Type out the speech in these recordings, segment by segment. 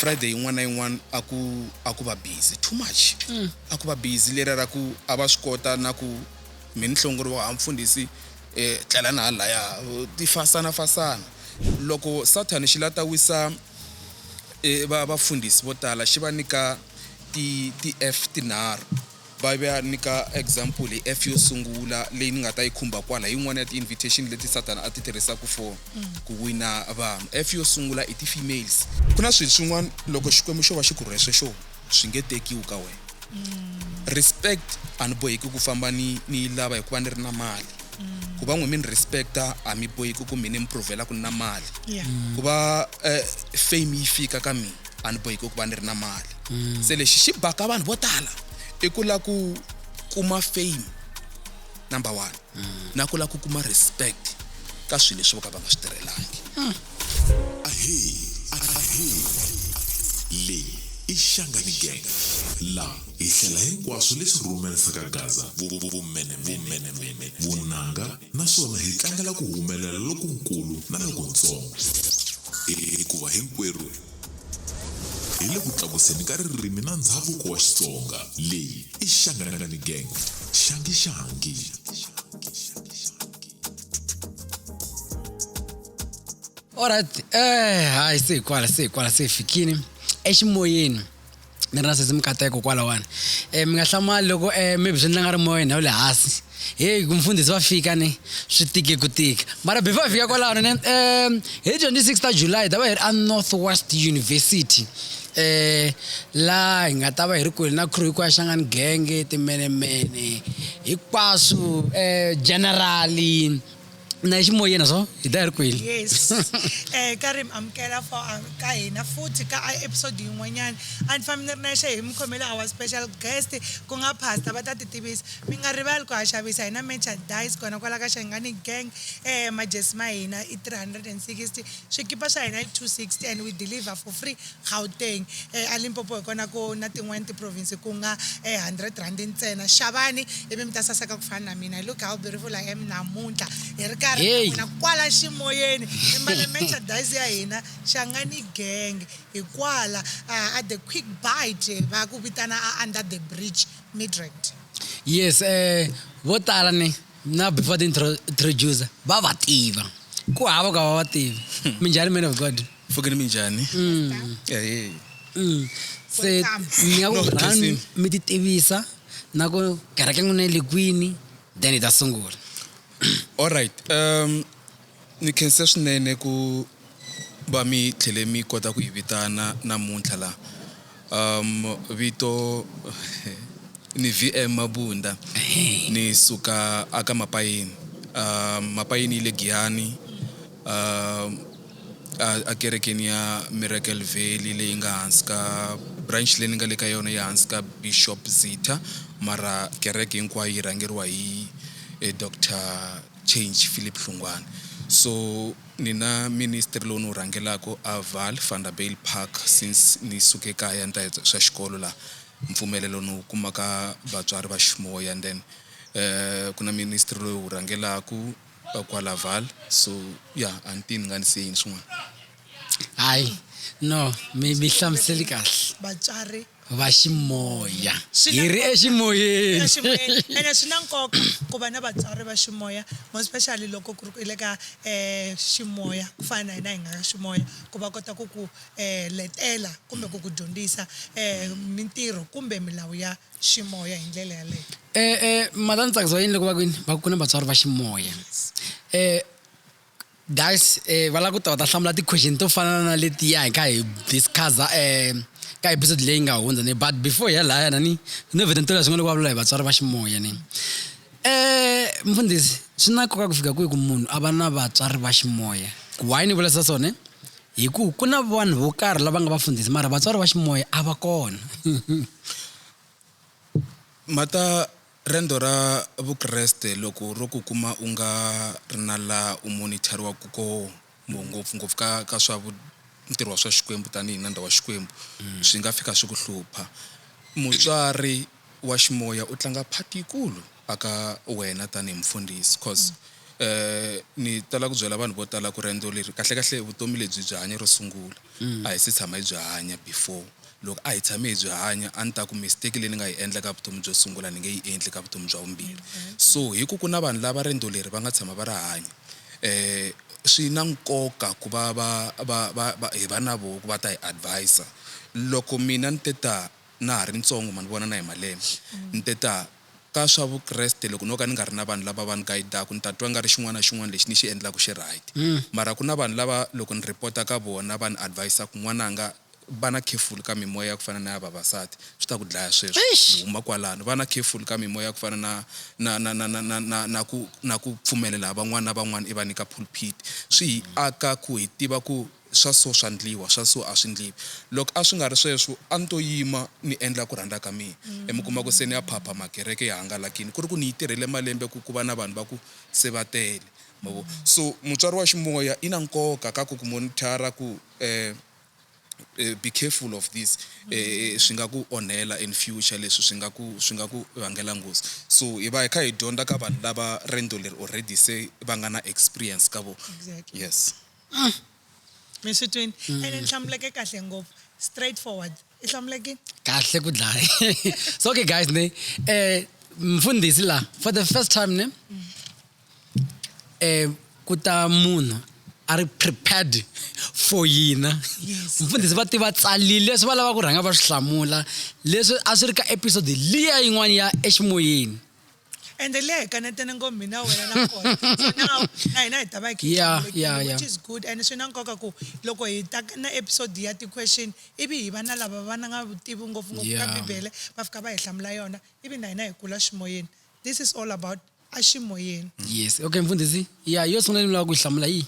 friday yin'wana na yin'wana a ku a ku va busy too much mm. a ku va busy lera ra ku a va swi kota na ku mi ni hlongori wa ha mfundhisi um tlela na halaya ti fasana fasana loko sathani xi la ta wisa um vafundhisi vo tala xi va nyika ti-f tinharhu Bibele yi nyika example hi F yo sungula leyi ni nga ta yi khumba kwala, hi yin'wana ya ti-invitation leti Sathana a ti tirhisaka for ku wina vanhu. F yo sungula i ti-females. Ku na swilo swin'wana loko Xikwembu xo va xi ku rhwese swona swi nge tekiwi ka wena. Respect, a ni boheki ku famba ni ni yi lava hikuva ni ri na mali. Ku va n'wina mi ni respect-a a mi boheki ku mina ni mi prove-la ku ni na mali. Ku va fame yi fika ka mina a ni bohiki ku va ni ri na mali mm. se lexi xi baka vanhu vo tala i ku la ku kuma fame number one mm. na ku la ku kuma respect ka swilo leswi vo ka va nga swi tirhelangi mm. leyi i xangani gang la hi hlela hinkwaswo leswi rhumerisaka gaza vumenemene vunanga naswona hi tlangela ku humelela lokunkulu na lokuntsongo, hikuva hinkwerhu hi le ku tlakuseni ka ririmi na ndzhavuko wa Xitsonga. Leyi i Shangani Gang, Shangi Shangi. Alright, eh, hayi se hi kwala se hi kwala se hi fikini eximoyeni. ni ri na sesi mikateko kwalawani um mi nga hlamali loko um maybe swi endla nga ri moya ndhawu le hansi heyi ku mfundhisi va fika ni swi tike ku tika mara before hi fika kwalano ni um hi twenty six ta july hi ta va hi ri a north west university um laha hi nga ta va hi ri kwini na crew hinkwayo ya xangani genge timenemene hinkwaswo um generali na ximoyeni na swo hi ta ya ri kweli yes um eh, ka ri mi amukela for ah, ka hina futhi ka episode yin'wanyana a ni fambi ni ri nexe hi mi khomele our special guest ku nga pastor va ta ti tivisa mi nga rivali ku ha xavisa hina merchandise kona kwala ka xangani gang um majesi ma hina i 360 swikipa swa hina i 260 and we deliver for free Gauteng, eLimpopo hi kona ku na tin'wana tiprovince ku nga R100 ntsena. Xavani ivi mi ta saseka ku fana na mina. You look how beautiful I am namuntlha hi ri karhi na n'wina kwala ximoyeni hi mbale merchandise ya hina Shangani Gang hi kwala a The Quick Bite va ku vitana a Under the Bridge, Midrand. Yes, vo tala ni na before ti introducer va va tiva. Ku hava ku a va va tivi. Minjhani man of God? mfokeni mi njhani Ehe. Mm. se mi ya No, ku run khensini. mi ti tivisa na ku kereke n'wina yi le kwini then hi ta sungula alright um ni khense swinene ku va mi tlhele mi kota ku hi vitana namuntlha laha Um, vito ni VM Mabunda ni suka aka Mapayini. Um, Mapayini yi le Giyani um, a, a kerekeni ya Miracle Valley leyi nga hansi ka branch leyi ni nga le ka yona ya hansi ka Bishop Zitha mara kereke hinkwayo yi rhangeriwa hi eh, Dr Change Philip Hlungwane so Ni na ministry lowu ni wu rhangelaka a Vaal, Vanderbijl Park, since ni suke kaya ni ta hi swa xikolo laha mpfumelelo ni wu kuma ka vatswari va ximoya and then ku na ministry lowu hi wu rhangelaka kwala Vaal so ya a ni tivi ni nga ni siye yini swin'wana. Hayi no mi mi hlamuseli kahle. Vatswari. va ximoya Swi na hi ri nkoka. eximoyeni eximoyeni ene swi na nkoka ku va na vatswari va ximoya more especially loko ku ri ku i le ka um ximoya ku fana na hina hi nga ka ximoya ku va kota ku ku um letela kumbe ku ku dyondzisa um mintirho kumbe milawu ya ximoya hi ndlela yaleyo um um mhaka ni tsakisiwa yini loko va kwini va ku na vatswari va ximoya um Guys va lava ku ta va ta hlamula ti-question to fana na letiya hi kha hi discuss-a um ka episode leyi nga hundza ni but before hi ya lahaya na ni no vheta ni tola leswi nga le ku vulavula hi vatswari va ximoya ni um mfundhisi swi na nkoka ku fika kwihi ku munhu a va na vatswari va ximoya why ni vulisa swona hi ku ku na vanhu vo karhi lava nga vafundhisi mara vatswari va ximoya a va kona mhata Rendo ra Vukreste loko ro ku kuma u nga ri na laha u monithariwaka kona, ngopfu-ngopfu ka, ka swa vu, ntirho wa swa Xikwembu tanihi nandza wa Xikwembu, swi nga fika swi ku hlupha. Mutswari wa ximoya u tlanga part yikulu aka wena tanihi mufundhisi, coz. ni tala ku byela vanhu vo tala ku riendzo leri kahlekahle vutomi lebyi byi hanya ro sungula mm. a hi se tshama hi byi hanya before loko a hi tshame hi byi hanya a ni ta ku mistake leyi ni nga yi endla ka vutomi byo sungula ni nge yi endli ka vutomi bya vumbirhi mm-hmm. so hi ku ku na vanhu lava riendzo leri va nga tshama va ri hanya um swi na nkoka ku va va va va va hi va na voho ku va ta hi advisa loko mina ni te ta na ha ri ntsongo ma ni vona na hi malembe mm. ni te ta ka swa Vukreste loko no ka ni nga ri na vanhu lava va ni gayidaka ni ta twa nga ri xin'wana na xin'wana lexi ni xi endlaka xi right. Mara ku na vanhu lava loko ni report-a ka vona va ni advise-a ku, N'wananga va na careful ka mimoya ya ku fana na ya vavasati, swi ta ku dlaya sweswo. Ni huma kwalano. Va na careful ka mimoya ya ku fana na na na na na na na na ku na ku pfumelela van'wana na van'wana i va nyika pulpit. Swi hi aka ku hi tiva ku Swa so swa ndliwa, swa so a swi ndliwi. Loko a swi nga ri sweswo, a ni to yima ni endla ku rhandza ka mina. E mi kuma ku se ni ya phapha, makereke ya hangalakile. Ku ri ku ni yi tirhele malembe ku ku va na vanhu va ku se va tele. Ma vo? So mutswari wa ximoya i na nkoka ka ku ku monitor-a ku, um, be careful of this, um, swi nga ku onhela in future, leswi swi nga ku, swi nga ku vangela nghozi. So hi va hi kha hi dyondza ka vanhu lava rendzo leri already se va nga na experience ka vona. Yes. Mm. mi swi twini mm. ene ni hlamuleke kahle ngopfu straight forward i hlamuleke kahle ku dlaya so okay guys ne eh mfundhisi la for the first time ne mm. eh ku ta munhu a ri prepared for yina mfundhisi va tiva tsalile leswi va lava ku rhanga va swi hlamula leswi a swi ri ka episode liya yin'wana ya eximoyeni ende leyi hi kanetene ngopfu mina wena na kona so na na hina hi ta va hi khe hi Yeah, hlawulekile, yeah, yeah. which is good and swi na nkoka ku loko hi ta na episode ya ti-question ivi hi va na lava va na nga vutivi ngopfungopfu ka Yeah. bibele va fika va hi hlamula yona ivi na hina hi kula ximoyeni this is all about aximoyeni yes okay mfundhisi ya yo sungula ni lava ku yi hlamula yihi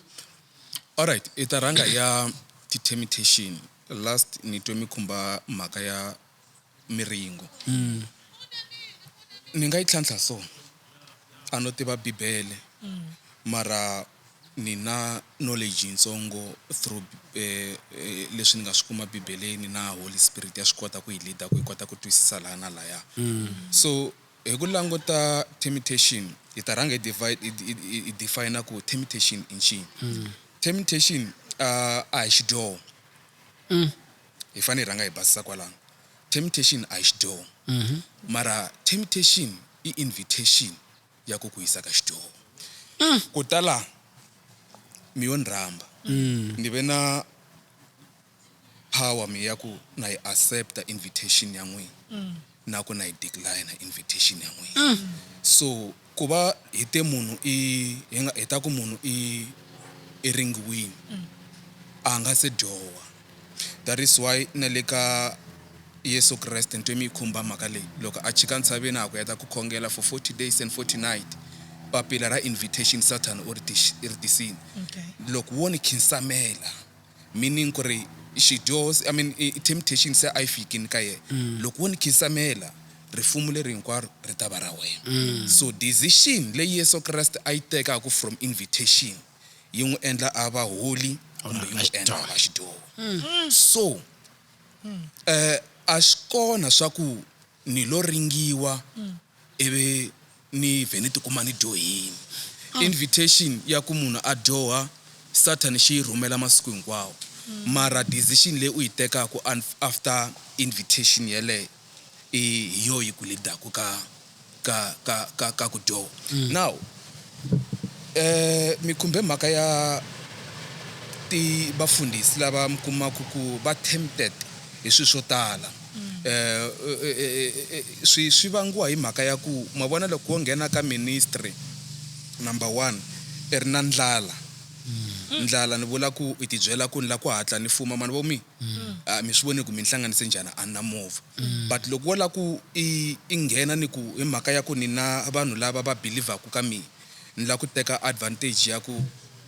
all right i ta rhanga ya ti-temptation last ni twe mi khumba mhaka ya miringo mm. ni nga yi tlhantlha so a no tiva bibele mm. mara ni na knowledge yitsongo through eh, eh, leswi ni nga swi kuma bibeleni na holy spirit ya swi kota ku yi leader ku yi kota ku twisisa laha na laya mm. so hi ku languta temptation hi ta rhanga hi define ku temptation i ncini mm. temptation uh, a hi xidyoho mm. hi fane hi rhanga hi basisa kwalano temptation a hi xidyoho mara temptation i invitation ya ku ku yisa ka xidyoho ku ta la mi yo ni rhamba ni ve na power mi ya ku na yi accepta invitation ya n'wina Na ku na yi decliner invitation ya n'wina. So ku va hi te munhu i hi nga hi ta ku munhu i i ringiwini a nga se dyoha. That is why na le ka Yeso Kreste ni twe mi yi khumba mhaka leyi loko a chika ntshaveni a ha ku heta ku khongela for forty days and forty night papila ra invitation Sathana u ri ri tisini loko wo ni khinsamela. meaning ku ri xidyoho I mean temptation se a yi fikini ka yena mm. loko wo ni khisamela rifumu leri hinkwaro ri ta va ra wena mm. so decision leyi yesu kreste a yi tekaku from invitation yi n'wi endla a va holy kumbe yi n'wi endla va xidyoho mm. so um a swi kona swa ku ni lo ringiwa ivi Ni vhe ni tikuma ni dyohile. Invitation ya ku munhu a dyoha Sathani xi yi rhumela masiku hinkwawo, mara decision leyi u yi tekaka after invitation yeleyo i hi yona yi ku lead-aka ka, ka, ka, ka, ka ku dyoha. Now, mi khumbe mhaka ya ti, vafundhisi lava mi kumaka ku va tempted hi swilo swo tala. swi swi vangiwa hi mhaka ya ku ma vona loko wo nghena ka ministry number one i ri na ndlala mm. ndlala ni vula ku i tibyela ku ni la ku hatla ni fuma mani vo mi mm. a mi swi voni ku mi ni hlanganise njhani a ni na movha mm. but loko wo la ku i i nghena ni ku hi mhaka ya ku ni na vanhu lava va believaku ka mina ni la ku teka advantage ya ku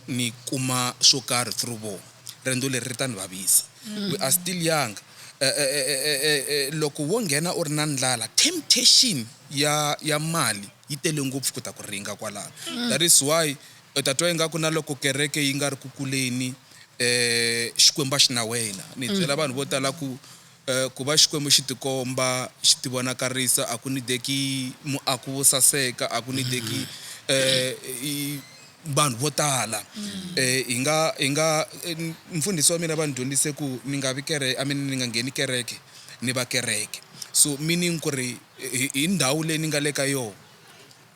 ni kuma swo karhi through vona Rendzo leri ri ta ni vavisa. We are still young. Eh, eh, eh, eh, eh, eh, eh, loko wo nghena u ri na ndlala, temptation ya, ya mali yi tele ngopfu ku ta ku ringa kwalano. That is why u ta twa ingaku na loko kereke yi nga ri ku kuleni, eh, Xikwembu a xi na wena. Ni byela vanhu vo tala ku, Ku va Xikwembu xi tikomba xi tivonakarisa a ku nideki muako wo saseka, a ku nideki vanhu vo tala. Hi nga, hi nga, mfundhisi wa mina va ni dyondzise ku ni nga vi kereke, I mean ni nga ngheni kereke ni va kereke. So meaning ku ri hi ndhawu leyi ni nga le ka yona.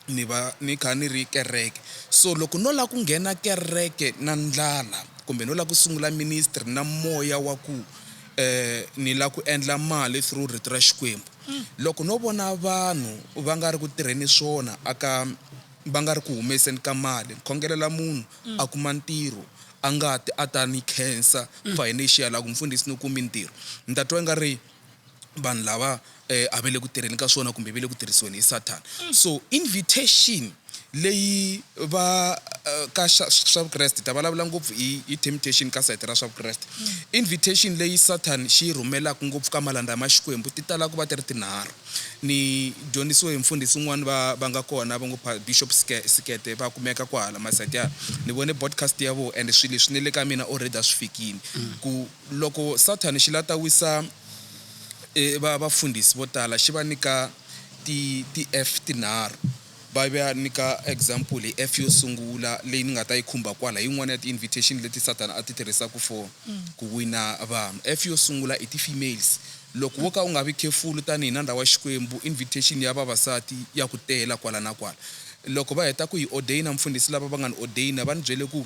ni va ni kha ni ri kereke so loko no lava ku nghena kereke na ndlala kumbe no lava ku sungula ministry na moya wa ku um ni lava ku endla mali through rito ra Xikwembu mm. loko no vona vanhu va nga ri ku tirheni swona aka va nga ri ku humeseni ka mali khongelela munhu mm. a kuma ntirho a nga ti a ta ni khensa mm. financial a ku mfundhisi ni kumi ntirho ni ta twa nga ri vanhu lava eh, a va le ku tirheni ka swona kumbe va le ku tirhisiweni hi sathana mm. so invitation leyi va eh, ka swa vukreste ta vulavula ngopfu hi temptation ka sayiti ra swa vukreste mm. invitation leyi sathani xi yi rhumelaka ngopfu ka malandza ya maxikwembu ti tala ku va ti ri tinharhu ni dyondzisiwe hi mfundhisi un'wana va va nga kona va ngo bishop sikete va kumeka kwahala masayiti ya ni vone podcast ya vo and swilo leswi ni le ka mina already a swi fikile mm. ku Loko Sathana xi la ta wisa va vafundhisi vo tala, xi va nyika ti ti F tinharhu. Va va nyika example hi F yo sungula leyi ni nga ta yi khumba kwala, hi yin'wana ya ti invitation leti Sathana a ti tirhisaka for ku wina vanhu. F yo sungula i ti females. Loko wo ka u nga vi careful tanihi nandza wa Xikwembu, invitation ya vavasati ya ku tela kwala na kwala. Loko va heta ku hi ordainer mufundhisi lava va nga ni ordainer va ni byele ku.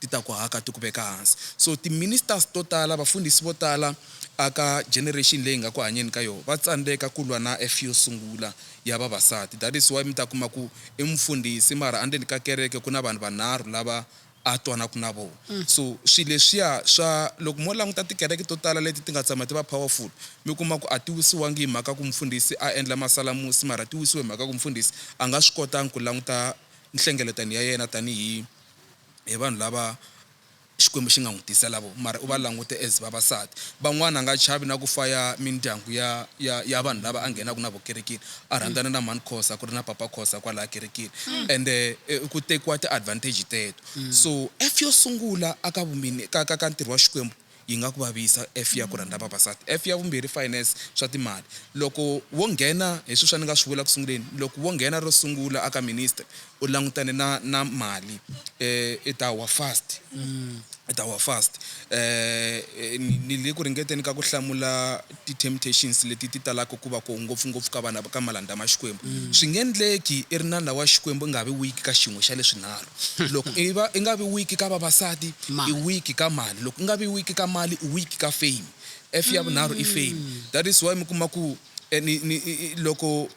Ti ta ku haka ti ku veka hansi. So ti ministers to tala, vafundhisi vo tala a ka generation leyi hi nga ku hanyeni ka yona va tsandzeka ku lwa na eff yo sungula ya vavasati. That is why mi ta kuma ku i mufundhisi mara endzeni ka kereke ku na vanhu vanharhu lava a twanaka na vona. So swilo leswiya swa, loko mo languta tikereke to tala leti ti nga tshama ti va powerful mi kuma ku a ti wisiwangi hi mhaka ku mufundhisi a endla masalamusi mara ti wisiwe hi mhaka ku mufundhisi a nga swi kotanga ku languta nhlengeletano ya yena tanihi hi vanhu lava Xikwembu xi nga n'wi tisela vona, mara u va langute as vavasati. Van'wana a nga chavi na ku faya mindyangu ya ya ya vanhu lava a nghenaka na vona kerekeni, a rhandzana na mhani Khosa ku ri na papa Khosa kwalaya kerekeni ende ku tekiwa ti-advantage teto. So F yo sungula aka ka ka ka ntirho wa Xikwembu, yi nga ku vavisa. F ya ku rhandza vavasati. F ya vumbirhi, finance, swa timali. Loko wo nghena, hi sweswo a ni nga swi vula ku sunguleni, loko wo nghena ro sungula aka ministry u langutane na na mali i ta wa fast, i ta wa fast. Ni le ku ringeteni ka ku hlamula. Ti temptations leti ti talaka ku va koho ngopfu ngopfu ka vana ka malandza ma Xikwembu. Swi nge ndleki i ri nandla wa Xikwembu i nga vi weak ka xin'we xa leswi nharhu. Loko i va i nga vi weak ka vavasati, i weak ka mali. Loko i nga vi weak ka mali, i weak ka fame. F ya vunharhu i fame. That is why mi kuma ku ni ni loko.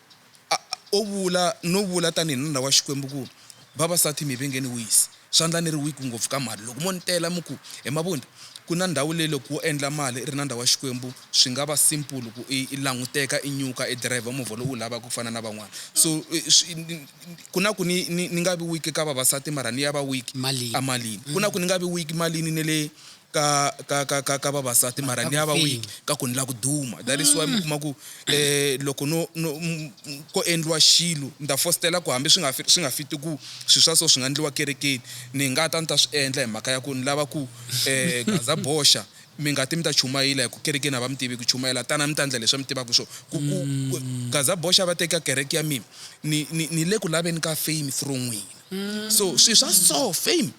A O vula no vula tanihi nuna wa Xikwembu ku, Vavasati, mi vengeni wisi. Swandla ni ri weak ngopfu ka mali. Loko mo ni tela mi ku, He Mabunda, ku na ndhawu leyi loko wo endla mali i ri nandza wa Xikwembu swi nga va simple ku i i languteka, i nyuka, i driver movha lowu u wu lavaka ku fana na van'wana. So swi ku na ku ni ni ni nga vi weak ka vavasati mara ni ya va weak Malini. emalini. Ku na ku ni nga vi weak malini ni le ka ka ka ka ka vavasati mara ka ni ya va weak ka ku ni la ku duma that is why mi kuma ku eh loko no no ko endliwa xilo ni ta fositela ku hambi swi nga swi nga fiti ku swi swa so swi nga endliwa kerekeni ni nga ta ni ta swi endla hi mhaka ya ku ni lava ku eh gaza boxa mi nga ti mi ta chumayela hi ku kerekeni a va mi tivi ku chumayela tana mi ta endla leswi mi tivaka swo ku ku gaza boxa va teka kereke ya mina ni ni ni le ku laveni ka fame through n'wina so swi swa so fame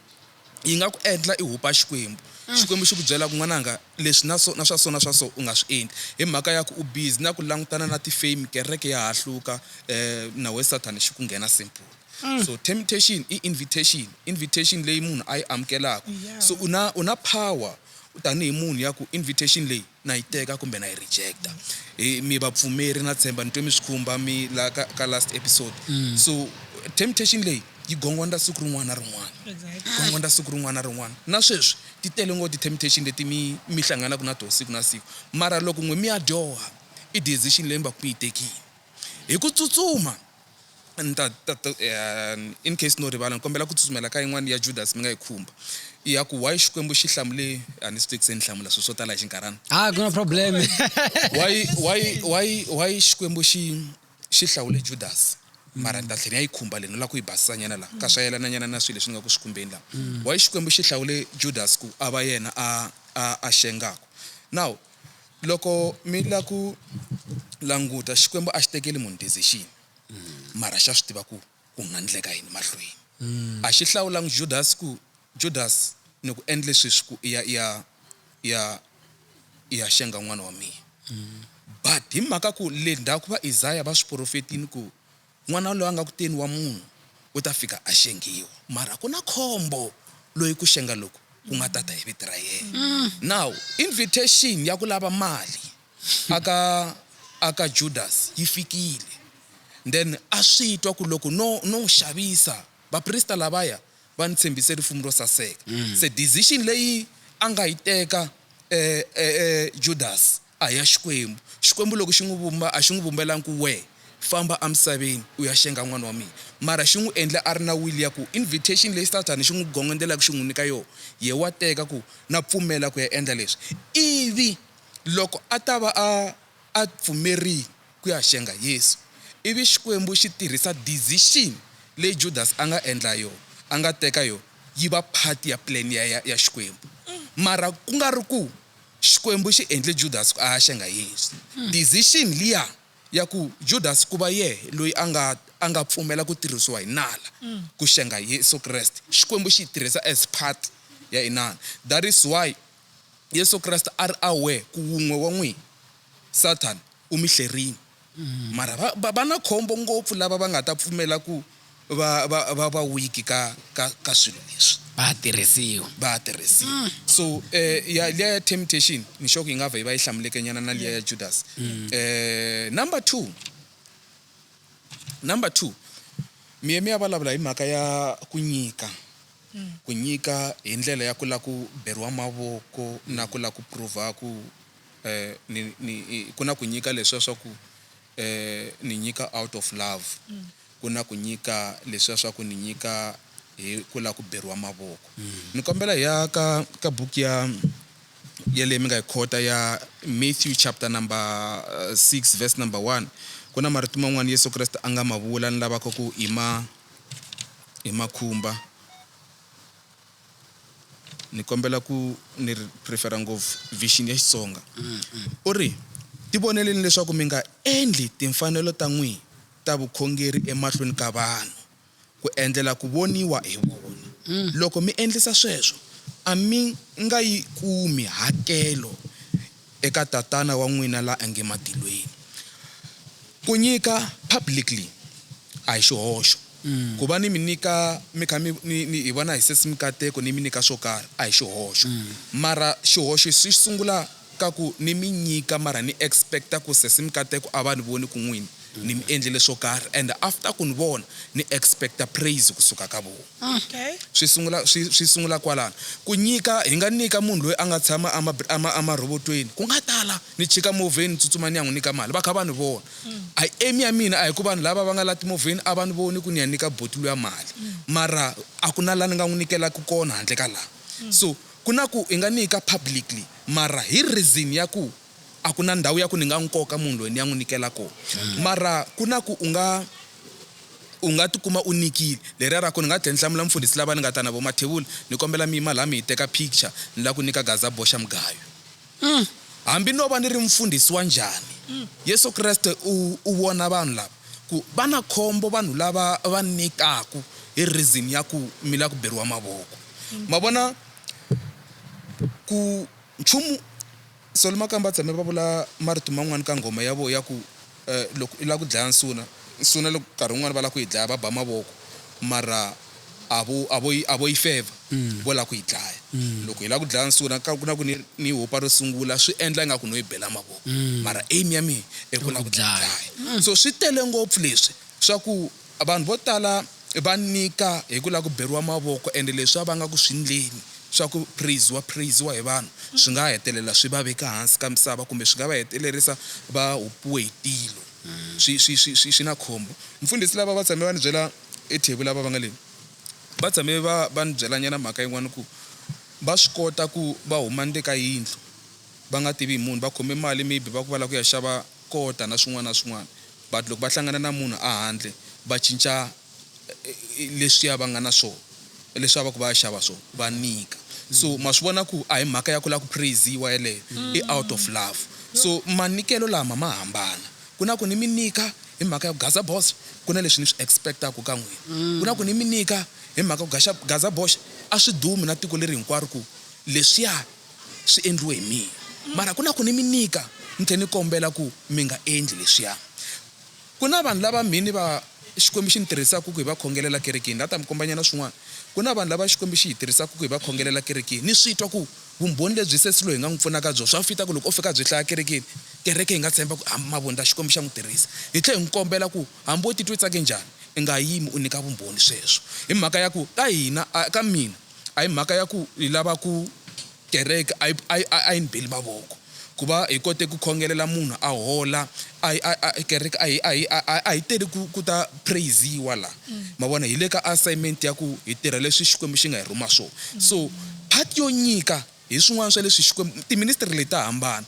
yi nga ku endla i hupa Xikwembu. Xikwembu xi ku byela ku, N'wananga, leswi na so na swa so na swa so u nga swi endli, hi mhaka ya ku u busy na ku langutana na ti-fame, kereke ya ha hluka, um nawu ya Sathana xi ku nghena simple. So temptation i invitation, invitation leyi munhu a yi amukelaka. So u na u na power tanihi munhu ya ku invitation leyi Na yi teka kumbe na yi rejecta. Hi mi vapfumeri na tshemba ni twe mi swi khumba mi la ka ka last episode. So temptation leyi yi gongondza siku rin'wana na rin'wana. Exactly. Gongondza siku rin'wana na rin'wana. Na sweswi ti tele ngopfu ti temptation leti mi mi hlanganaka na toho siku na siku. Mara loko n'we mi ya dyoha i decision leyi mi vaku mi yi tekile hi ku tsutsuma. ni ta ta ta eh, in case no rivala ni kombela ku tsutsumela ka yin'wana ya judas mi nga yi khumba i ya ku why xikwembu xi hlamule a ni swi twi ku se ni hlamula swilo swo tala hi xinkarhana ah ku na problem why why why why xikwembu xi xi hlawule judas mara ni ta tlhela ni ya yi khumba leyi ni lava ku yi basisanyana laha ka swa yelananyana na swilo leswi ni nga ku swi khumbeni laha why xikwembu xi hlawule judas ku a va yena a a a xengaka now Loko mi la ku languta, Xikwembu a xi tekeli munhu decision, mara xa swi tiva ku ku nga ndleka yini mahlweni. A xi hlawulangi Judasi ku, Judasi, ni ku endle sweswi ku i ya, i ya, i ya, i ya xenga n'wana wa mina. But hi mhaka ku le ndzhaku va Isaya va swi porofetile ku, N'wana loyi a nga kuteni wa munhu u ta fika a xengiwa, mara ku na khombo loyi ku xenga loku ku nga ta ta hi vito ra yena. Now, invitation ya ku lava mali aka aka Judas yi fikile, then a swi twa ku loko no no n'wi xavisa, vaprista lavaya va ni tshembise rifumu ro saseka. Se decision leyi a nga yi teka e e e Judas A hi ya Xikwembu. Xikwembu loko xi n'wi vumba, a xi n'wi vumbelangi ku, Wehe, famba emisaveni u ya xenga n'wana wa mina. Mara xi n'wi endle a ri na wili ya ku, invitation leyi Sathana xi n'wi gongondzelaka xi n'wi nyika yona, yehe wa teka ku, Na pfumela ku ya endla leswi. Ivi loko a ta va a a pfumerile ku ya xenga Yesu, ivi Xikwembu xi tirhisa decision leyi Judasi a nga endla yona, a nga teka yona, yi va part ya plan ya ya ya Xikwembu. Mara ku nga ri ku Xikwembu xi endle Judasi ku ahaxenga Yesu. Decision liya ya ku Judasi ku va yehe loyi a nga a nga pfumela ku tirhisiwa hi nala ku xenga Yesu Kreste, Xikwembu xi yi tirhisa as part ya inana. That is why Yesu Kreste a ri aware ku wun'we wa n'wina, Sathana, u mi hlerile. Mara va, va, va na khombo ngopfu lava va nga ta pfumela ku va, va, va va wiki ka, ka, ka swilo leswi. Va ha tirhisiwa. Va ha tirhisiwa. So, eh, ya, liya ya temptation, ni sure ku yi nga vha yi va yi hlamuleke-nyana na liya ya Judasi. Eh, number two, number two, mi ye mi ya vulavula hi mhaka ya ku nyika, ku nyika hi ndlela ya ku lava ku beriwa mavoko na ku lava ku prove-a ku eh, ni, ni, ku na ku nyika leswiya swa ku eh, ni nyika out of love mm. ku na ku nyika leswiya swa ku ni nyika hi ku lava ku beriwa mavoko mm. ni kombela hi ya ka ka buku ya yaleyi mi nga yi khota ya matthew chapter number 6 eh, verse number 1 ku na marito man'wana yesu kreste a nga ma vula ni lavaka ku ima hi makhumba ni kombela ku ni ri prefera ngopfu vision ya Xitsonga u ri tivoneleni leswaku mi nga endli timfanelo ta n'wina ta vukhongeri emahlweni ka vanhu ku endlela ku voniwa hi vona. Loko mi endlisa sweswo, a mi nga yi kumi hakelo eka Tatana wa n'wina la ange matilweni. Ku nyika publicly a hi xihoxo. Ku va ni mi nyika mi kha mi ni ni hi vona hi sesi mikateko ni mi nyika swo karhi a hi xihoxo. Mara xihoxo xi sungula ka ku ni mi nyika mara ni expect ku sesi mikateko a va ni voni ku n'wini ni mi endlele swo karhi and after ku ni vona ni expect praise ku suka ka vona. Okay. Swi sungula, swi, swi sungula kwalano. Ku nyika, hi nga nyika munhu loyi a nga tshama a ma, a ma, a marhobotweni. Ku nga tala. Ni chika movheni, ni tsutsuma ni ya n'wi nyika mali. Va kha va ni vona. A hi aim ya mina, a hi ku vanhu lava va nga la timovheni a va ni voni ku ni ya nyika buti luya mali. Mara a ku na la ni nga n'wi nyikelaka kona handle ka laha. So, ku na ku hi nga nyika publicly, mara hi reason ya ku A ku na ndhawu ya ku ni nga n'wi koka munhu loyi ni ya n'wi nikela kona. Mara ku na ku u nga u nga tikuma u nikile. Leriya ra ku ni nga tlhela ni hlamula mufundhisi lava ni nga ta na vona, Mathevula, ni kombela mi yima laha mi hi teka picture, ni lava ku nyika Gaza boxa mugayo. Hambi no va ni ri mufundhisi wa njhani, Yesu Kreste u u vona vanhu lava ku va na khombo vanhu lava va nikaka hi reason ya ku mi lava ku beriwa mavoko. Ma vona? Ku. Nchumu, Sol Makamba tshame va vula marito man'wana ka nghoma ya vona ya ku loko u lava ku dlaya nsuna, nsuna loko nkarhi wun'wana va lava ku yi dlaya va ba mavoko mara a vo a vo yi a vo yi fevha vo lava ku yi dlaya. Loko hi lava ku dlaya nsuna ku na ku ni ni hopa ro sungula swi endla ingaku no yi bela mavoko mara aim ya mina i ku lava ku dlaya. So swi tele ngopfu leswi swa ku Vanhu vo tala va nyika hi ku lava ku beriwa mavoko ende leswi va vangaka swindleni swa ku praise-wa praise-wa hi vanhu swi nga hetelela swi va veka hansi ka misava kumbe swi nga va hetelerisa va hupiwe hi tilo. Swi swi swi swi swi na khombo. Mfundhisi lava va tshame va ni byela e Thebu lava va nga le va tshame va va ni byela nyana mhaka yin'wana ku va swi kota ku va huma ni le ka yindlu va nga tivi hi munhu va khome mali maybe va ku va lava ku ya xava kota na swin'wana na swin'wana But loko va hlangana na munhu a handle va cinca leswiya va nga na swo leswiya va ku va ya xava swo va nyika so ma swi vona ku a hi mhaka ya ku la ku praise-iwa yeleyo i out of love so manyikelo lama ma hambana ku na ku ni mi nyika hi mhaka ya ku Gaza boss ku na leswi ni swi expect-aku ka n'wina ku na ku ni mi nyika hi mhaka ku Gaza boss a swi dumi na tiko leri hinkwaro ku leswiya Swi endliwe hi mina. Mara ku na ku ni mi nyika, ni tlhela ni kombela ku mi nga endli leswiya. Ku na vanhu lava mhini va Xikwembu xi ni tirhisaka ku hi va khongelela kerekeni. Ni la ku ta mi kombanyana swin'wana. Ku na vanhu lava Xikwembu xi hi tirhisaka ku hi va khongelela kerekeni. Ni swi twa ku vumbhoni lebyi sesi loyi hi nga n'wi pfunaka byona swa fita ku loko o fika a byi hlaya kerekeni, kereke yi nga tshemba ku hambi mavundla Xikwembu xa n'wi tirhisa. Hi tlhela hi n'wi kombela ku hambi wo titwa u tsake njhani, u nga yimi u nyika vumbhoni sweswo. Hi mhaka ya ku ka hina, ka mina, a hi mhaka ya ku hi lava ku kereke a yi a yi a yi ni beli mavoko ku va hi kote ku khongelela munhu a hola a hi a kereke a hi a hi a hi teli ku ku ta praise-iwa la ma vona hi le ka assignment ya ku hi tirha leswi Xikwembu xi nga hi rhuma swona so part yo nyika Hi swin'wana swa leswi Xikwembu, tiministri leti ta hambana.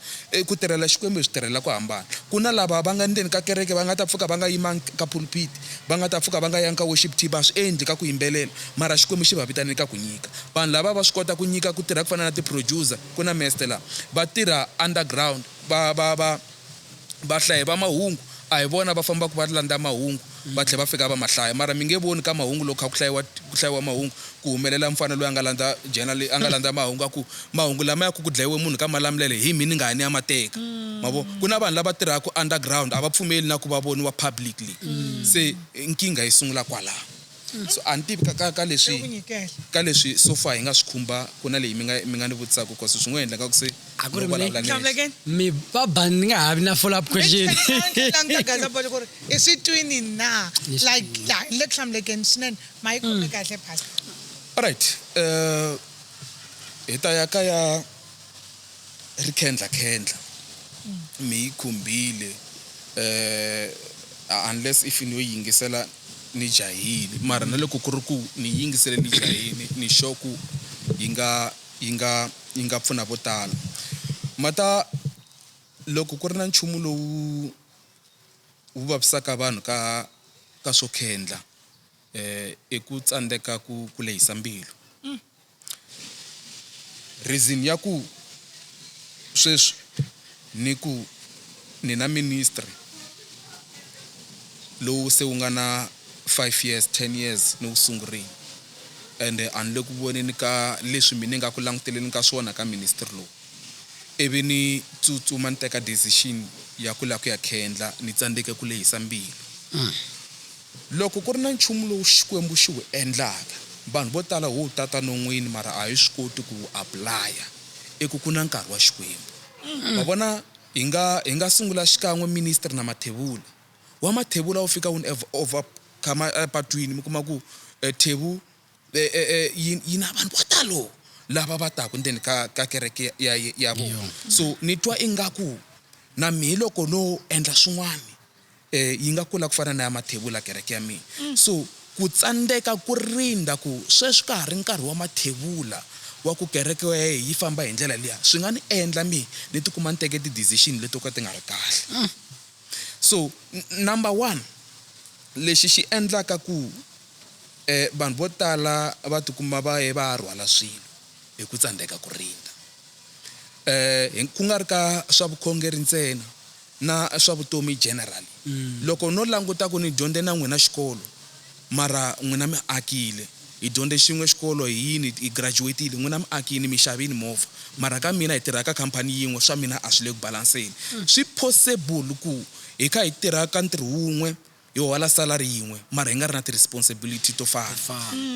Ku tirhela Xikwembu hi switirhelela ku hambana. Ku na lava va nga ndzeni ka kereke va nga ta pfuka va nga yimanga ka pulpiti, va nga ta pfuka va nga yangi ka worship team, va swi endli ka ku yimbelela, mara Xikwembu xi va vitanele ka ku nyika. Vanhu lava va swi kota ku nyika, ku tirha ku fana na ti-producer, ku na Mester laha, va tirha underground, va, va, va. Vahlayi va mahungu a hi vona va fambaka va landza mahungu va tlhela va fika va ma hlaya. Mara mi nge voni ka mahungu loko kha ku hlayiwa ku hlayiwa mahungu ku humelela mfana loyi a nga landza journal a nga landza mahungu a ku mahungu lamaya ku ku dlayiwe munhu ka Malamulele hi mhiningani ni ya ma teka ma vo. Ku na vanhu lava tirhaka underground a va pfumeli na ku va voniwa publicly se nkingha yi sungula kwalano. So a ni tivi ka ka ka leswi ka leswi so far hi nga swi khumba ku na leyi mi nga mi nga ni vutisaka cause swi ngo endleka ku se A ku ri mi- vulavula Hlamula nexe. again. mi va ban ni nga ha vi na follow up question languta gaza bolo ku ri i swi twini na Yes. like ya ni le ku hlamulekeni swinene ma yi khome kahle pastor Alright. Eh hi ta ya ka ya ri khendla khendla mi yi khumbile eh unless if no yingisela ni jahile mara na loko ku ri ku ni yingisele ni jahile ni sure ku yi nga yi nga yi nga pfuna vo tala mata loko ku ri na nchumu lowu wu vavisaka vanhu ka ka swo khendla eh i ku tsandzeka ku ku lehisa mbilu. Reason ya ku sweswi ni ku ni na ministry lowu se wu nga na five years, ten years ni wu sungurile and a ni le ku voneni ka leswi mina ni nga ku languteleni ka swona ka ministry lowu ivi ni tsutsuma ni teka decision ya ku lava ku ya khendla ni tsandzeke ku lehisa mbilu. Loko ku ri na nchumu lowu Xikwembu xi wu endlaka, vanhu vo tala ho wu tata non'wini mara a hi swi koti ku wu apulaya. I ku ku na nkarhi wa Xikwembu. Ma vona? Hi nga, hi nga sungula xikan'we ministry na mathevula. Wa mathevula wu fika wu ni overcome epatwini, mi kuma ku thevu yi, yi na vanhu vo talo lava va taka ndzeni ka, ka kereke ya, ya vona. So ni twa ingaku na mehe loko no endla swin'wana, Eh, yi nga kula ku fana na ya Mathebula, kereke ya mina. So, ku tsandzeka ku rindza ku sweswi ka ha ri nkarhi wa Mathebula wa ku kereke ya yena yi famba hi ndlela liya, swi nga ni endla ni ni ti kuma ni teke ti-decision leto ka ti nga ri kahle. So, number one, lexi xi endlaka ku eh, vanhu vo tala va ti kuma va ye va ya rhwala swilo hi ku tsandzeka ku rindza. Eh, ku nga ri ka swa vukhongeri ntsena. na swa vutomi general loko no languta ku ni dyondze na n'wina xikolo mara n'wina mi akile hi dyondze xin'we xikolo hi yini hi graduate-ile n'wina mi akini mi xavini movha mara ka mina hi tirha ka company yin'we swa mina a swi le ku balance-eni swi possible ku hi kha hi tirha ka ntirho wun'we Hi hola salary yin'we mara hi nga ri na ti responsibility to fana.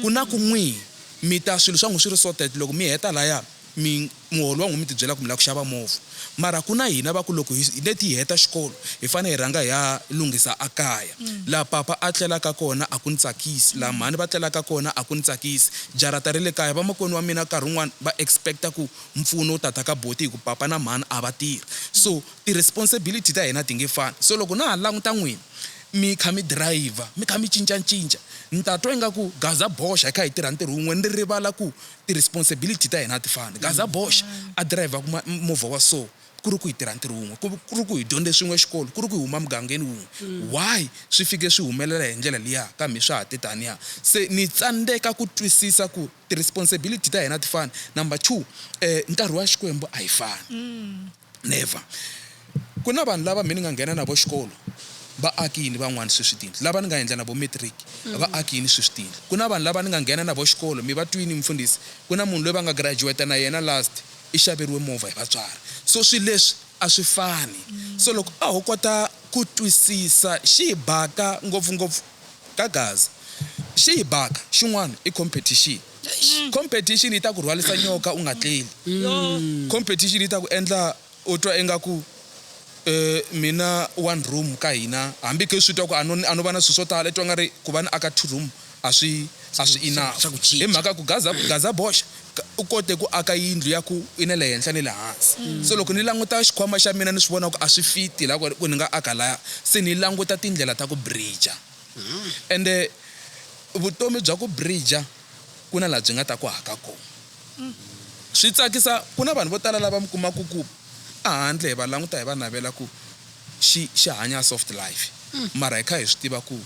Ku na ku n'wi mi ta swilo swa n'wi swi ri sorted loko mi heta laya mi muholo wa n'wi mi ti byela ku mi lava ku xava movha mara ku na hina va ku loko hi let hi heta xikolo hi fanele hi rhanga hi ya lunghisa a kaya laha papa a tlelaka kona a ku ni tsakisi laha mhani va tlelaka kona a ku ni tsakisi jarata ri le kaya vamakwenu wa mina nkarhi wun'wana va expect-a ku mpfuno wu ta ta ka boti hi ku papa na mhani a va tirhi so Ti-responsibility ta hina ti nge fani. So loko na ha languta n'wina mi kha mi dirayivha, mi kha mi cinca-ncinca, ni ta twa ingaku gaza boxa hi kha hi tirha ntirho wun'we, ni rivala ku ti-responsibility ta hina a ti fani. Gaza boxa a dirayivhaka movha wa so, ku ri ku hi tirha ntirho wun'we, ku ri ku hi dyondze swin'we xikolo, ku ri ku hi huma mugangeni wun'we. Why swi fike swi humelela hi ndlela liya ka mhe swa ha te taniya? Se ni tsandzeka ku twisisa ku ti-responsibility ta hina a ti fani. Number two, nkarhi wa Xikwembu a yi fani. Never. Ku na vanhu lava mhe ni nga nghena na vo xikolo, va akini van'wana sweswi tindlu. Lava ni nga endla na vo matric, va akini sweswi tindlu. Ku na vanhu lava ni nga nghena na vo xikolo, mi va twini mufundhisi, ku na munhu loyi va nga graduate na yena last, i xaveriwe movha hi vatswari. So swilo leswi a swi fani. So loko a ho kota ku twisisa xi hi baka ngopfungopfu ka Gaza, xi hi baka xin'wana i competition. Competition yi ta ku rhwalisa nyoka u nga tleli. Competition yi ta ku endla u twa ingaku mina one room ka hina hambi ku swi twa ku a no a no va na swilo swo tala i twa nga ri ku va ni aka two room a swi a swi enough hi mhaka ku gaza gaza boxa u kote ku aka yindlu ya ku i na le henhla ni le hansi so loko ni languta xikhwama xa mina ni swi vona ku a swi fit la ku ni nga aka laya se ni languta tindlela ta ku bridge. ende vutomi bya ku bridger ku na laha byi nga ta ku haka kona swi tsakisa ku na vanhu vo tala lava mi kumaku ku ehandle hi va languta hi va navela ku xi xi hanya soft life mara hi kha hi swi tiva ku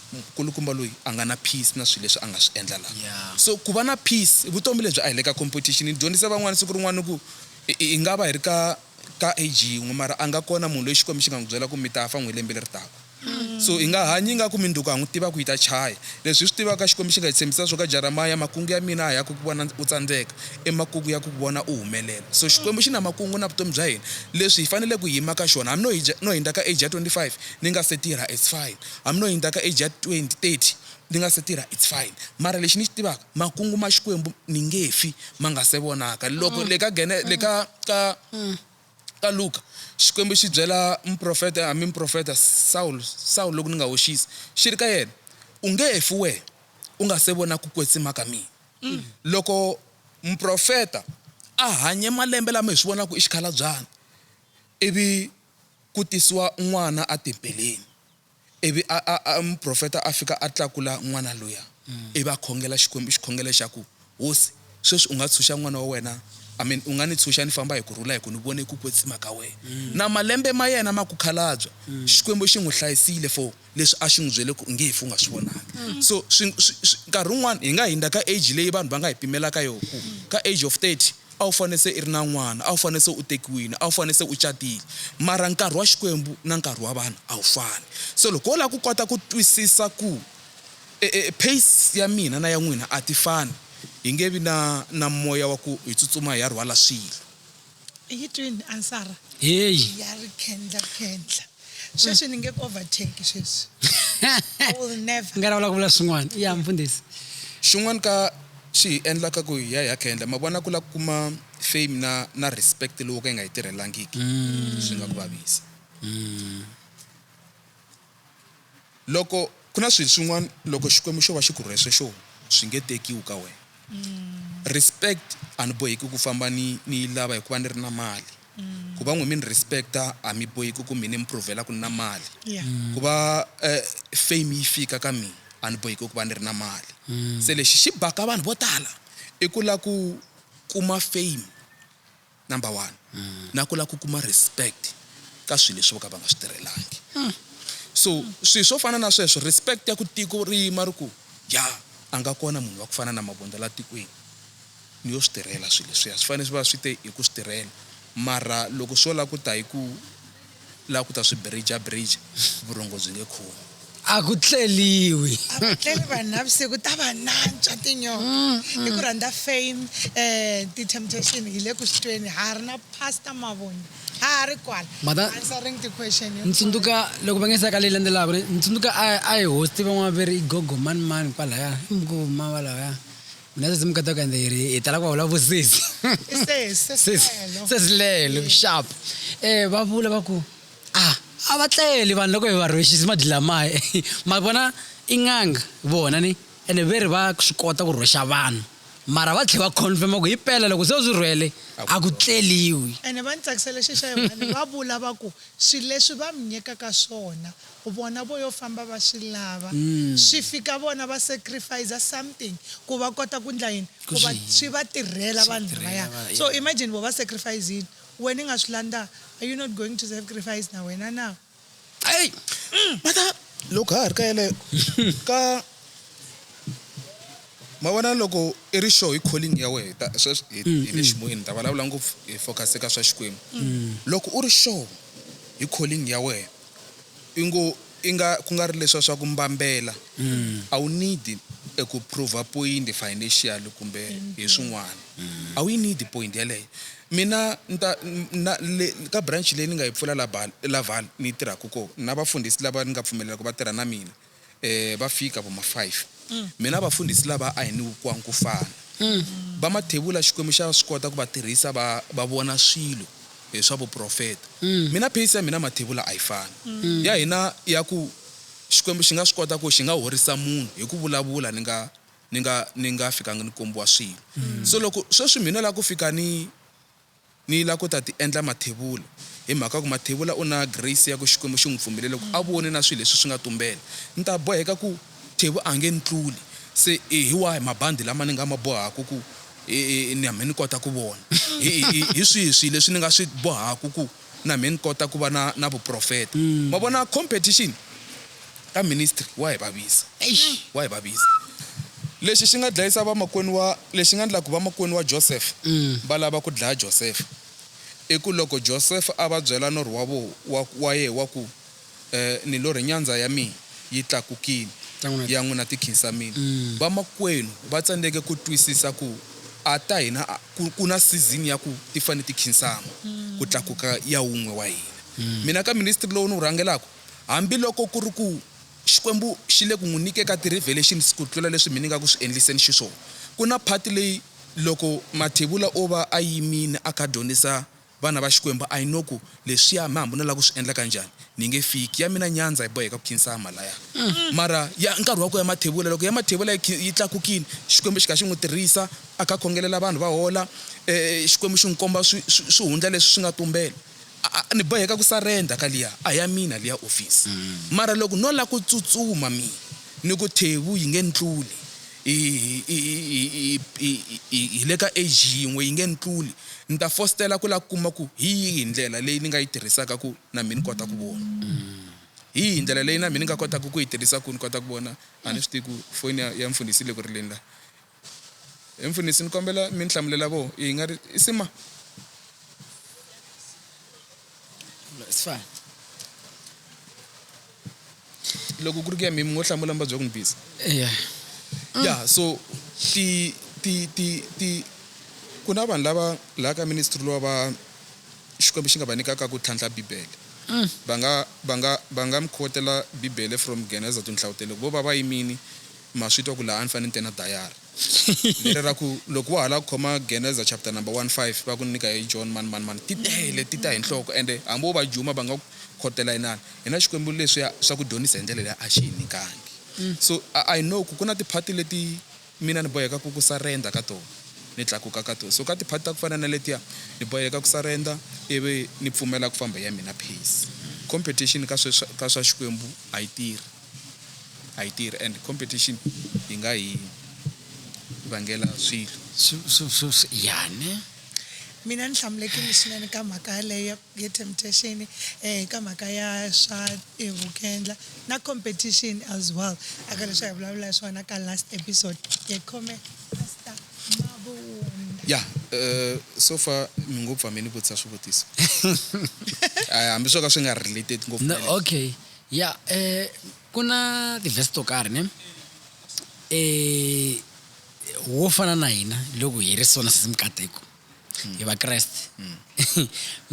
nkulukumba loyi a nga na peace na swilo leswi a nga swi endla laha Yeah. so ku va na peace i vutomi lebyi a hi le ka competition ni dyondzise van'wana siku rin'wana ku hi hi nga va hi ri ka ka age yin'we mara a nga kona munhu loyi xikwembu xi nga n'wi byela ku mi ta fa n'wi lembe leri taka So hi nga hanyi ingaku minduku ha n'wi tiva ku yi ta chaya. Leswi hi swi tivaka, Xikwembu xi nga hi tshembisa swo ka Jaramaya, Makungu ya mina a ya ku ku vona u tsandzeka, i makungu ya ku ku vona u humelela. So Xikwembu xi na makungu na vutomi bya hina, leswi hi faneleke ku yima ka xona. Hambi no hi no hindza ka age ya 25 ni nga se tirha, it's fine. Hambi no hindza ka age ya 20, 30 ni nga se tirha, it's fine. Mara lexi ni xi tivaka, makungu ma Xikwembu ni nge fi ma nga se vonaka. Loko le ka le ka ka. Ka Luka, Xikwembu xi byela muprofeta, hambi muprofeta, Sawulo, Sawulo, loko ni nga hoxisi, xi ri ka yena, U nge he fi wehe, u nga se vona ku kwetsima ka mina. Loko muprofeta a hanye malembe lama hi swi vonaka i xikhalabyana, ivi ku tisiwa n'wana etempeleni, Ivi a, a, a, muprofeta a fika a tlakula n'wana luya, ivi a khongela Xikwembu xikhongelo lexaku, Hosi, sweswi u nga tshunxa n'wana wa wena, amen, u nga ni tshunxa ni famba hi ku rhula, hi ku ni vone ku kwetsima ka wena, na malembe ma yena ma ku khalabya, Xikwembu xi n'wi hlayisile for leswi a xi n'wi byele ku u nge hi fu u nga swi vonanga. So, swi, swi, swi, nkarhi wun'wana hi nga hindza ka age leyi vanhu va nga hi pimela ka yona, ku ka age of 30, A wu fanele se i ri na n'wana, a wu fanele se u tekiwile, a wu fanele se u catile. Mara nkarhi wa Xikwembu na nkarhi wa vanhu a wu fani. So loko wo lava ku kota ku twisisa ku e, e, pace ya mina na ya n'wina a ti fani, hi nge vi na, na moya wa ku hi tsutsuma hi ya rhwala swilo. I yi twini ansara Heyi! ya rikhendla-khendla? sweswi ni nge ku overtake sweswi i will never nga lavula ku vula swin'wana ya mfundhisi xin'wana ka swi hi endlaka ku hi ya hi ya khendla ma vona ku la ku kuma fame na na respect lowo ka yi nga yi tirhelangiki mm. swi nga ku vavisa mm. Loko ku na swilo swin'wana loko Xikwembu xo va xi ku rhwese xo swi nge tekiwi ka wena. Respect, A ni boheki ku famba ni ni yi lava hikuva ni ri na mali. Ku va n'wi mi ni respect-a a mi boheki ku mi ni mi prove-la ku ni na mali. Ku va fame yi fika ka mina a ni boheki ku va ni ri na mali. Se lexi xi baka vanhu vo tala i ku lava ku kuma fame. Number one na ku la ku kuma respect ka swilo leswi vo ka va nga swi tirhelangi so swilo swo fana na sweswo respect ya ku tiko ri yima ri ku ya a nga kona munhu wa ku fana na Mavundla la tikweni ni yo swi tirhela swilo leswiya swi fanele swi va swi te hi ku swi tirhela mara loko swo la ku ta hi ku Lava ku ta swi birija-birija, vurhongo byi nge khomi. A ku tleliwi. A va tleli vanhu navusiku, ta va nantswa tinyonga hi ku rhandza fame, eh, ti-temptation, hi le ku swi tweni, ha ha ri na Pastor Mavundla, ha ha ri kwala, Mada- answering ti-question Ni hinkwato. tsundzuka loko va nge se ya ka leyi landzelaka, ni ni tsundzuka a a hi host van'wana va ve ri i Gogo mani mani kwalaya, i Gogo mani kwalaya. Mina sesi mukata ka ende ri hi tala ku va vulavusisi. Sesi lelo sharp. Eh va vula va ku ah a va tleli vanhu loko hi va rhwexisa mabyi lamaya ma vona i n'anga vona ni ene ve ri va swi kota ku rhwexa vanhu mara va tlhe va confirm ku hi pela loko se u swi rhwele a ku tleliwi. Ene va ni tsakisela xi xa yin'wani va vula va ku swi leswi va mi nyikaka swona Vona vo yo famba va swi lava swi fika vona va sacrificer something ku va kota ku ndla yini ku va swi va tirhela vanhu lavaya so imagine vo va sacrifice yini wena i nga swi landanga are you not going to sacrifice na wena na Ai mhaka loko ha ha ri ka yeleyo ka ma vona loko i ri sure hi calling ya wena hi ta sweswi hi hi le ximoyeni ni ta vulavula ngopfu hi focus eka swa Xikwembu loko u ri sure hi calling ya wena Ingo inga kungari leswa swa ku mbambela a wu need eku prover point financial kumbe hi swin'wana a wu yi need point yaleyo mina ni ta na le ka branch leyi ni nga yi pfula la bal la Vaal ni yi tirhaku ko na vafundhisi lava ni nga pfumelela ku va tirha na mina eh, va fika vo ma-five mm. mina vafundhisi lava a hi ni vukwang ku fana mm. va mathevula xikwembu xa swi kota ku va tirhisa va va vona swilo hi eh, swa vuprofeta mm. mina pace ya mina mathevula a yi fani mm. ya hina ya ku xikwembu xi nga swi kota ku xi nga horisa munhu hi ku vulavula ni nga ni nga ni nga fikanga ni kombiwa swilo mm. so loko sweswi mina la ku fika ni Ni la ku ta ti endla Mathevula, hi mhaka ku Mathevula u na grace ya ku Xikwembu xi n'wi pfumelele ku a vone na swilo leswi swi nga tumbela. Ni ta boheka ku Thevu a nge ni tluli, se hi wahi mabandi lama ni nga ma bohaka ku na mhe ni kota ku vona? Hi swihi swilo leswi ni nga swi bohaka ku na mhe ni kota ku va na na vuprofeta? Ma vona competition? Ka ministry wa hi vavisa. Eish! Wa hi vavisa. Lexi xi nga dlayisa vamakwenu wa, lexi nga ndla ku vamakwenu wa Joseph va lava ku dlaya Joseph, i ku loko Joseph a va byela norho wa vo, wa, wa yehe wa ku, Eh, ni lorhe nyandza ya mina yi tlakukile, ya n'wina ti khinsamile, vamakwenu va tsandzeke ku twisisa ku a ta hina a, ku, ku na season ya ku ti fane ti khinsama ku tlakuka ya wun'we wa hina. Mina ka ministry lowu ni wu rhangelaka, Hambi loko ku ri ku Xikwembu xi le ku n'wi nyikeka ti-revelations ku tlula leswi mina ni nga ku swi endliseni xiswona, ku na part leyi loko Mathebula o va a yimile a kha a dyondzisa vana va Xikwembu, I know ku leswiya mi hambi no lava ku swi endla ka njhani mi nge fiki. Ya mina nyandza hi boheka ku khinsama laya. Mara ya nkarhi wa ku ya Mathebula, loko ya Mathebula yi khi yi tlakukile, Xikwembu xi kha xi n'wi tirhisa a kha a khongelela vanhu va hola, Xikwembu xi n'wi komba swi swi swihundla leswi swi nga tumbela. A ni boheka ku surrender ka liya a ya mina liya office. Mara loko no la ku tsutsuma mi ni ku Thevhu yi nge ni tluli hi hi le ka age yin'we yi nge ni tluli ni ta fositela ku la ku kuma ku hi yihi ndlela leyi ni nga yi tirhisaka ku na mina ni kota ku vona. Hi yihi ndlela leyi na mina ni nga kotaka ku yi tirhisa ku ni kota ku vona a ni swi tivi ku foni ya ya mfundhisi yi le ku rileni la. He mfundhisi, ni kombela mi ni hlamulela vo i nga ri i sima? Sifana. Loko ku ri ku ya mi mi ngo hlamula mi va byela ku ni busy. Eya. Ya so ti ti ti ti ku na vanhu lava laha ka ministry lowa va Xikwembu xi nga va nyikaka ku tlhantlha Bibele. Va nga va nga va nga mi quote-ela Bibele from Geneza to Nhlawutelo ku vo va va yimini. Ma swi twa ku laha a ni fanele ni te na dayari leri ra ku, Loko wa ha lava ku khoma Geneza chapter number one five va ku nyika hi John mani mani mani, ti tele ti ta hi nhloko ende hambi wo va juma va nga ku khotela inana. Hina Xikwembu leswiya swa ku dyondzisa hi ndlela leyi a xi hi nyikangi. So I know ku ku na ti-part leti mina ni bohekaka ku surrender ka tona ni tlakuka ka tona. So ka ti-part ta ku fana na letiya ni boheka ku surrender ivi ni pfumela ku famba hi ya mina pace. Competition ka swa Xikwembu a yi tirhi. a yi tirhi and competition yi nga hi vangela swilo yani mina ni hlamulekile swinene ka mhaka yaleyo ya temptation um eh, ka mhaka ya swa eh, vukendla na competition as well aka leswi hi vulavula swona ka last episode hi khome pastor mavunda ya eh, so far mi ngopfu hambi ni vutisa swivutiso hambi swo ka swi nga related ngopfu okay Ya ku na ti-verse to karhi ne wo fana na hina loko hi ri so na sesi mikateko hi vakreste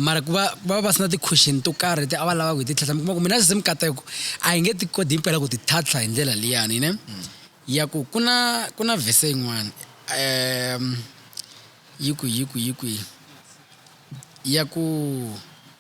mara ku va va va sina ti-question to karhi leti a va lava ku hi ti tlhatlha mi kuma ku mina sesi mikateko a hi nge ti koti himpela ku ti tlhatlha hi ndlela liyani ne ya ku ku na ku na verse yin'wani yi ku yi ku yi kwihi ya ku.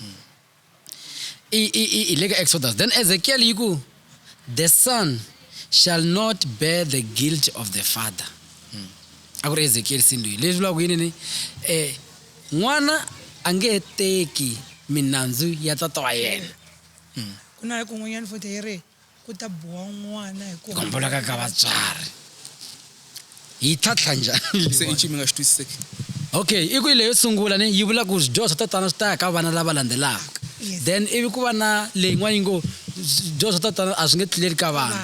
mm. i, i, i, i le ka exodus then ezekiel yi ku the son shall not bear the guilt of the father mm. a ku ri ezekiel sindwi leswi vulaka yini ni eh n'wana a nge he teki minandzu ya tata wa yena mm. ku na kun'wanyana futhi yi ri ku ta biwa n'wana hi ku homboloka ka vatswari yi tlhatlha njhani se i nchumu nga xi twisiseki okay i ku yi leyo sungula ni yi vula ku swidyoho swa tatana swi ta ya ka vana lava landzelaka then ivi ku va na leyin'wana yi ngo swidyoho swa tatana a swi nge tluleli ka vana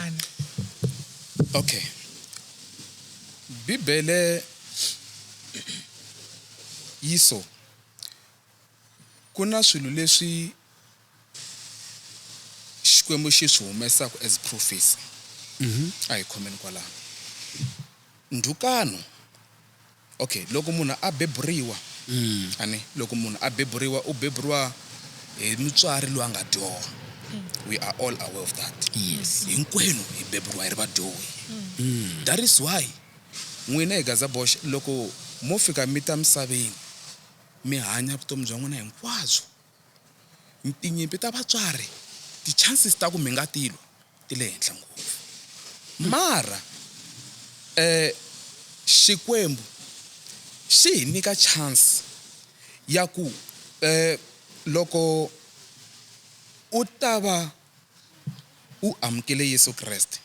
okay bibele yi so ku na swilo leswi Xikwembu xi swi humesaku as prophecy. A hi khomeni kwalano. Ndhukano, okay, loko munhu a beburiwa, a ne, loko munhu a beburiwa, u beburiwa hi mutswari loyi a nga dyoha. We are all aware of that. Yes. Hinkwenu hi beburiwa hi ri vadyohi. That is why n'wina hi gaza boxe loko mo fika mi ta misaveni, mi hanya vutomi bya n'wina hinkwabyo. Tinyimpi ta vatswari ti chances ta ku mi nga ti lwa ti le henhla ngopfu mara eh Xikwembu xi hi nyika chance ya ku eh loko u ta va. u amukele Yesu Kreste,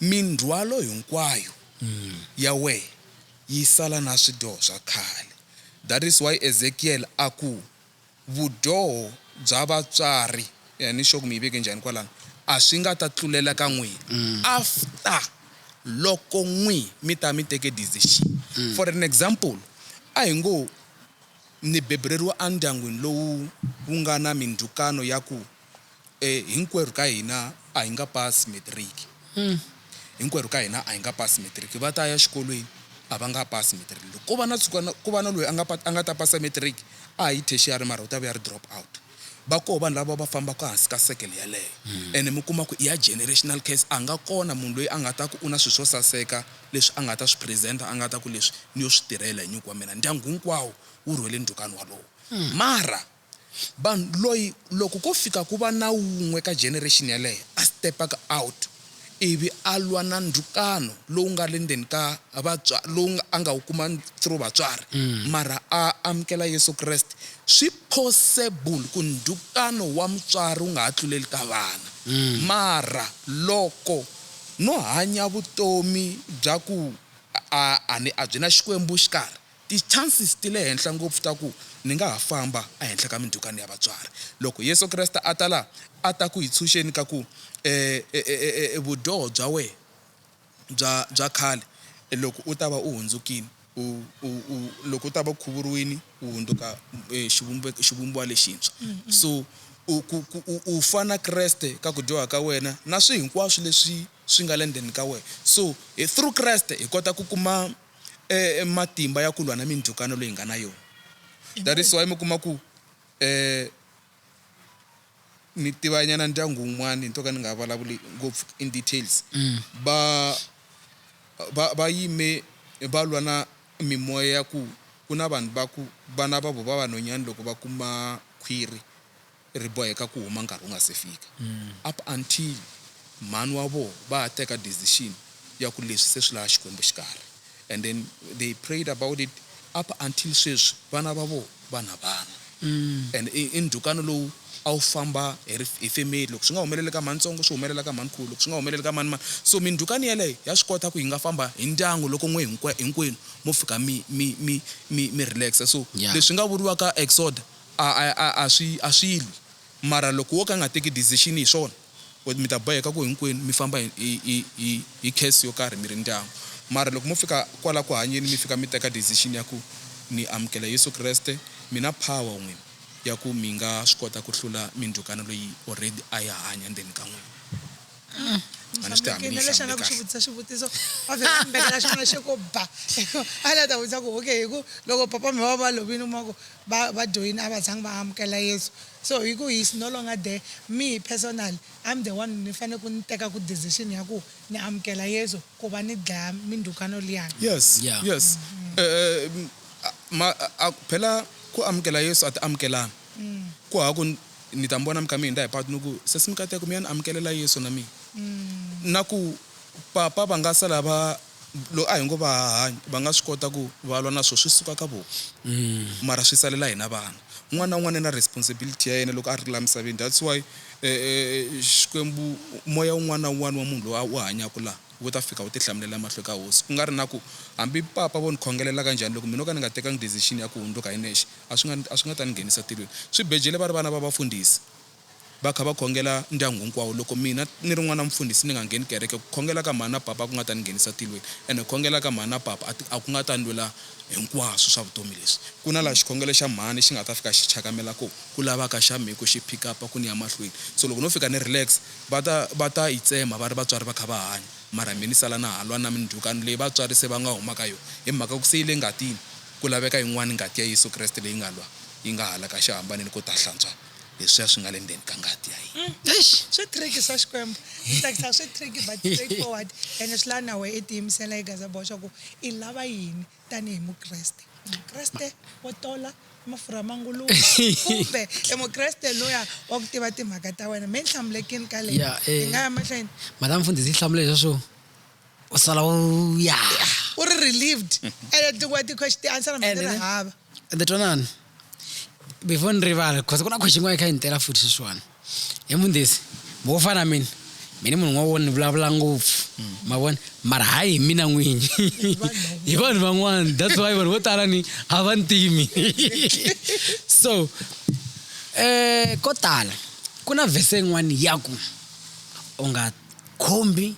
mindzhwalo hinkwayo ya wehe yi sala na swidyoho swa khale. That is why Ezekiel a ku, Vudyoho bya vatswari, a ni sure ku mi yi veke njhani kwalano, a swi nga ta tlulela ka n'wina after loko n'wi mi ta mi teke decision. For an example, a hi ngo Ni bebuleriwa endyangwini lowu wu nga na mindzhukano ya ku e, hinkwerhu ka hina a hi nga pasi metiriki. Hinkwerhu ka hina a hi nga pasi metiriki. Va ta ya xikolweni, a va nga pasi metiriki. Loko ko va na tshuka ku va na loyi a nga a nga ta pasa metiriki, a hi tertiary mara u ta va a ri drop out. Va koho vanhu lava va fambaka hansi ka circle yaleyo ene mi kuma ku i ya generational curse. A nga kona munhu loyi a nga ta ku u na swilo swo saseka leswi a nga ta swi present-a a nga ta ku leswi ni yo swi tirhela hi nyuku wa mina. Ndyangu hinkwawo wu rhwele ndhukani walowo. Mara vanhu loyi loko ko fika ku va na wun'we ka generation yaleyo a step-aka out, ivi a lwa na ndhukano lowu nga le ndzeni ka vatswa, lowu a nga wu kuma through vatswari, mara a amukela Yesu Kreste, swi possible ku ndhukano wa mutswari wu nga ha tluleli ka vana. Mara loko no hanya vutomi bya ku a a ni a byi na Xikwembu xikarhi, Ti chances ti le henhla ngopfu ta ku ni nga ha famba a henhla ka mindzhukano ya vatswari. Loko Yesu Kreste a ta la, a ta ku hi tshunxeni ka ku e, e, e, e, e, vudyoho bya wehe bya, bya khale, loko u ta va u hundzukini, u, u, u, loko u ta va u khuvuriwini, u hundzuka e, xivumbeko, xivumbiwa lexintshwa. So, u, ku, ku, u, u fa na Kreste ka ku dyoha ka wena, na swi hinkwaswo leswi swi nga le ndzeni ka wehe. So, hi through Kreste hi kota ku kuma. E, e matimba ya ku lwa na mindzhukano leyi hi nga na yona. That is why mi kuma ku e, ni tivanyana ndyangu wun'wana nto ka ni nga valavuli ngopfu in details, va, va, va yime va lwa na mimoya ya ku ku na vanhu va ku vana va vo va vanhonyani loko va kuma khwiri, ri boheka ku huma nkarhi wu nga se fika up until mhani wa voho va ha teka decision ya ku leswi se swi lava Xikwembu xi karhi and then they prayed about it up until sweswi vana va voho va na vana and i ndhukano lowu a wu famba hi ri hi family loko swi nga humeleli ka mhani ntsongo swi humelela ka mhani khulu loko swi nga humeleli ka mhani mhani so mindhukano yaleyo ya swi kota ku yi nga famba hi ndyangu loko n'we hinkwa hinkwenu mo fika mi mi mi mi mi relax so leswi nga vuriwaka exoder A, a, a, a swi, a swi lwi. Mara loko wo ka a nga teki decision hi swona, u, mi ta boheka ku hinkwenu mi famba hi, hi, hi, hi, hi curse yo karhi mi ri ndyangu. Mara loko mo fika kwala ku hanyeni mi fika mi teka decision ya ku ni amukela Yesu Kreste, mi na power n'wina ya ku mi nga swi kota ku hlula mindhukano leyi already a yi hanya ndzeni ka n'wina. na lexi a nga ku xi vutisa xivutiso va vhela a mbekela xin'wana xi ku ba a la ta vutisa ku okay hi ku loko papa mi va va lovini kuma ku va va joyini a va zangi va amukela yesu so hi ku he's no longer there me personal i'm the one ni fanele ku ni teka ku decision ya ku ni amukela yesu ku va ni dlaya mindhukano liyani yes yeah. yes um, ma phela ku amukela yesu a ti amukelana mm. ku ha ku Ni ta mi vona mi kha mi hindza hi patu ni ku, Sesi Mkateko, mi ya ni amukelela Yesu na mina. Na ku, Papa va nga sala va, loko a hi ngo va ha hanya, va nga swi kota ku va lwa na swo swi suka ka vona. Mara swi salela hina vana. Un'wana na un'wana i na responsibility ya yena loko a ri laha misaveni. That's why Xikwembu, moya wun'wana na wun'wana wa munhu loyi a wu hanyaka laha, wu ta fika wu ti hlamulela emahlweni ka Hosi. Ku nga ri na ku, hambi Papa vo ni khongelela ka njhani, loko mina no ka ni nga tekanga decision ya ku hundzuka hi nexe, A swi nga, a swi nga ta ni nghenisa tilweni. Swibejele va ri vana va vafundhisi, va kha va khongela ndyangu hinkwawo. Loko mina ni ri n'wana mufundhisi ni nga ngheni kereke, ku khongela ka mhani na papa a ku nga ta ni nghenisa tilweni. Ene ku khongela ka mhani na papa a ti, a ku nga ta ni lwela hinkwaswo swa vutomi leswi. Ku na laha xikhongelo xa mhani xi nga ta fika xi chakamela koho, ku lavaka xa mehe ku xi pick up-a ku ni ya mahlweni. So loko no fika ni relax, va ta, va ta yi tsema va ri vatswari va kha va hanya, mara mehe ni sala na ha lwa na mindzhukano leyi vatswari se va nga huma ka yona, hi mhaka ku se yi le ngatini. Ku laveka yin'wana ngati ya Yesu Kreste leyi nga lwa yi nga hala ka xihambanelo ku ta hlantswa leswiya swi nga le ndzeni ka ngati ya yena. Eish! Swi tricky swa Xikwembu. Ni tsakisa swi tricky but straight forward ene swi lava na wehe i tiyimisela hi gaza boxa ku i lava yini tani hi Mukreste. I Mukreste wo tola mafurha ma nguluve kumbe i Mukreste luya wa ku tiva timhaka ta wena? Me ni hlamule kin ka leyi. Hi nga ya mahlweni. Madam Mfundhisi yi hlamule leswa swo. u sala u ya u ri relieved ene ntlungu wa ti-question ti answer mhani ri hava ende twanani before ni rivala because ku na question yin'wana yi kha yi ni tela futhi sweswiwani hi mundesi mo wo fana na mina mina munhu n'wana wo ni vulavula ngopfu ma vona mara hayi hi mina n'winyi hi vanhu van'wana that's why vanhu vo tala ni a va ntimi so um ko tala ku na vhese yin'wana ya ku u nga khombi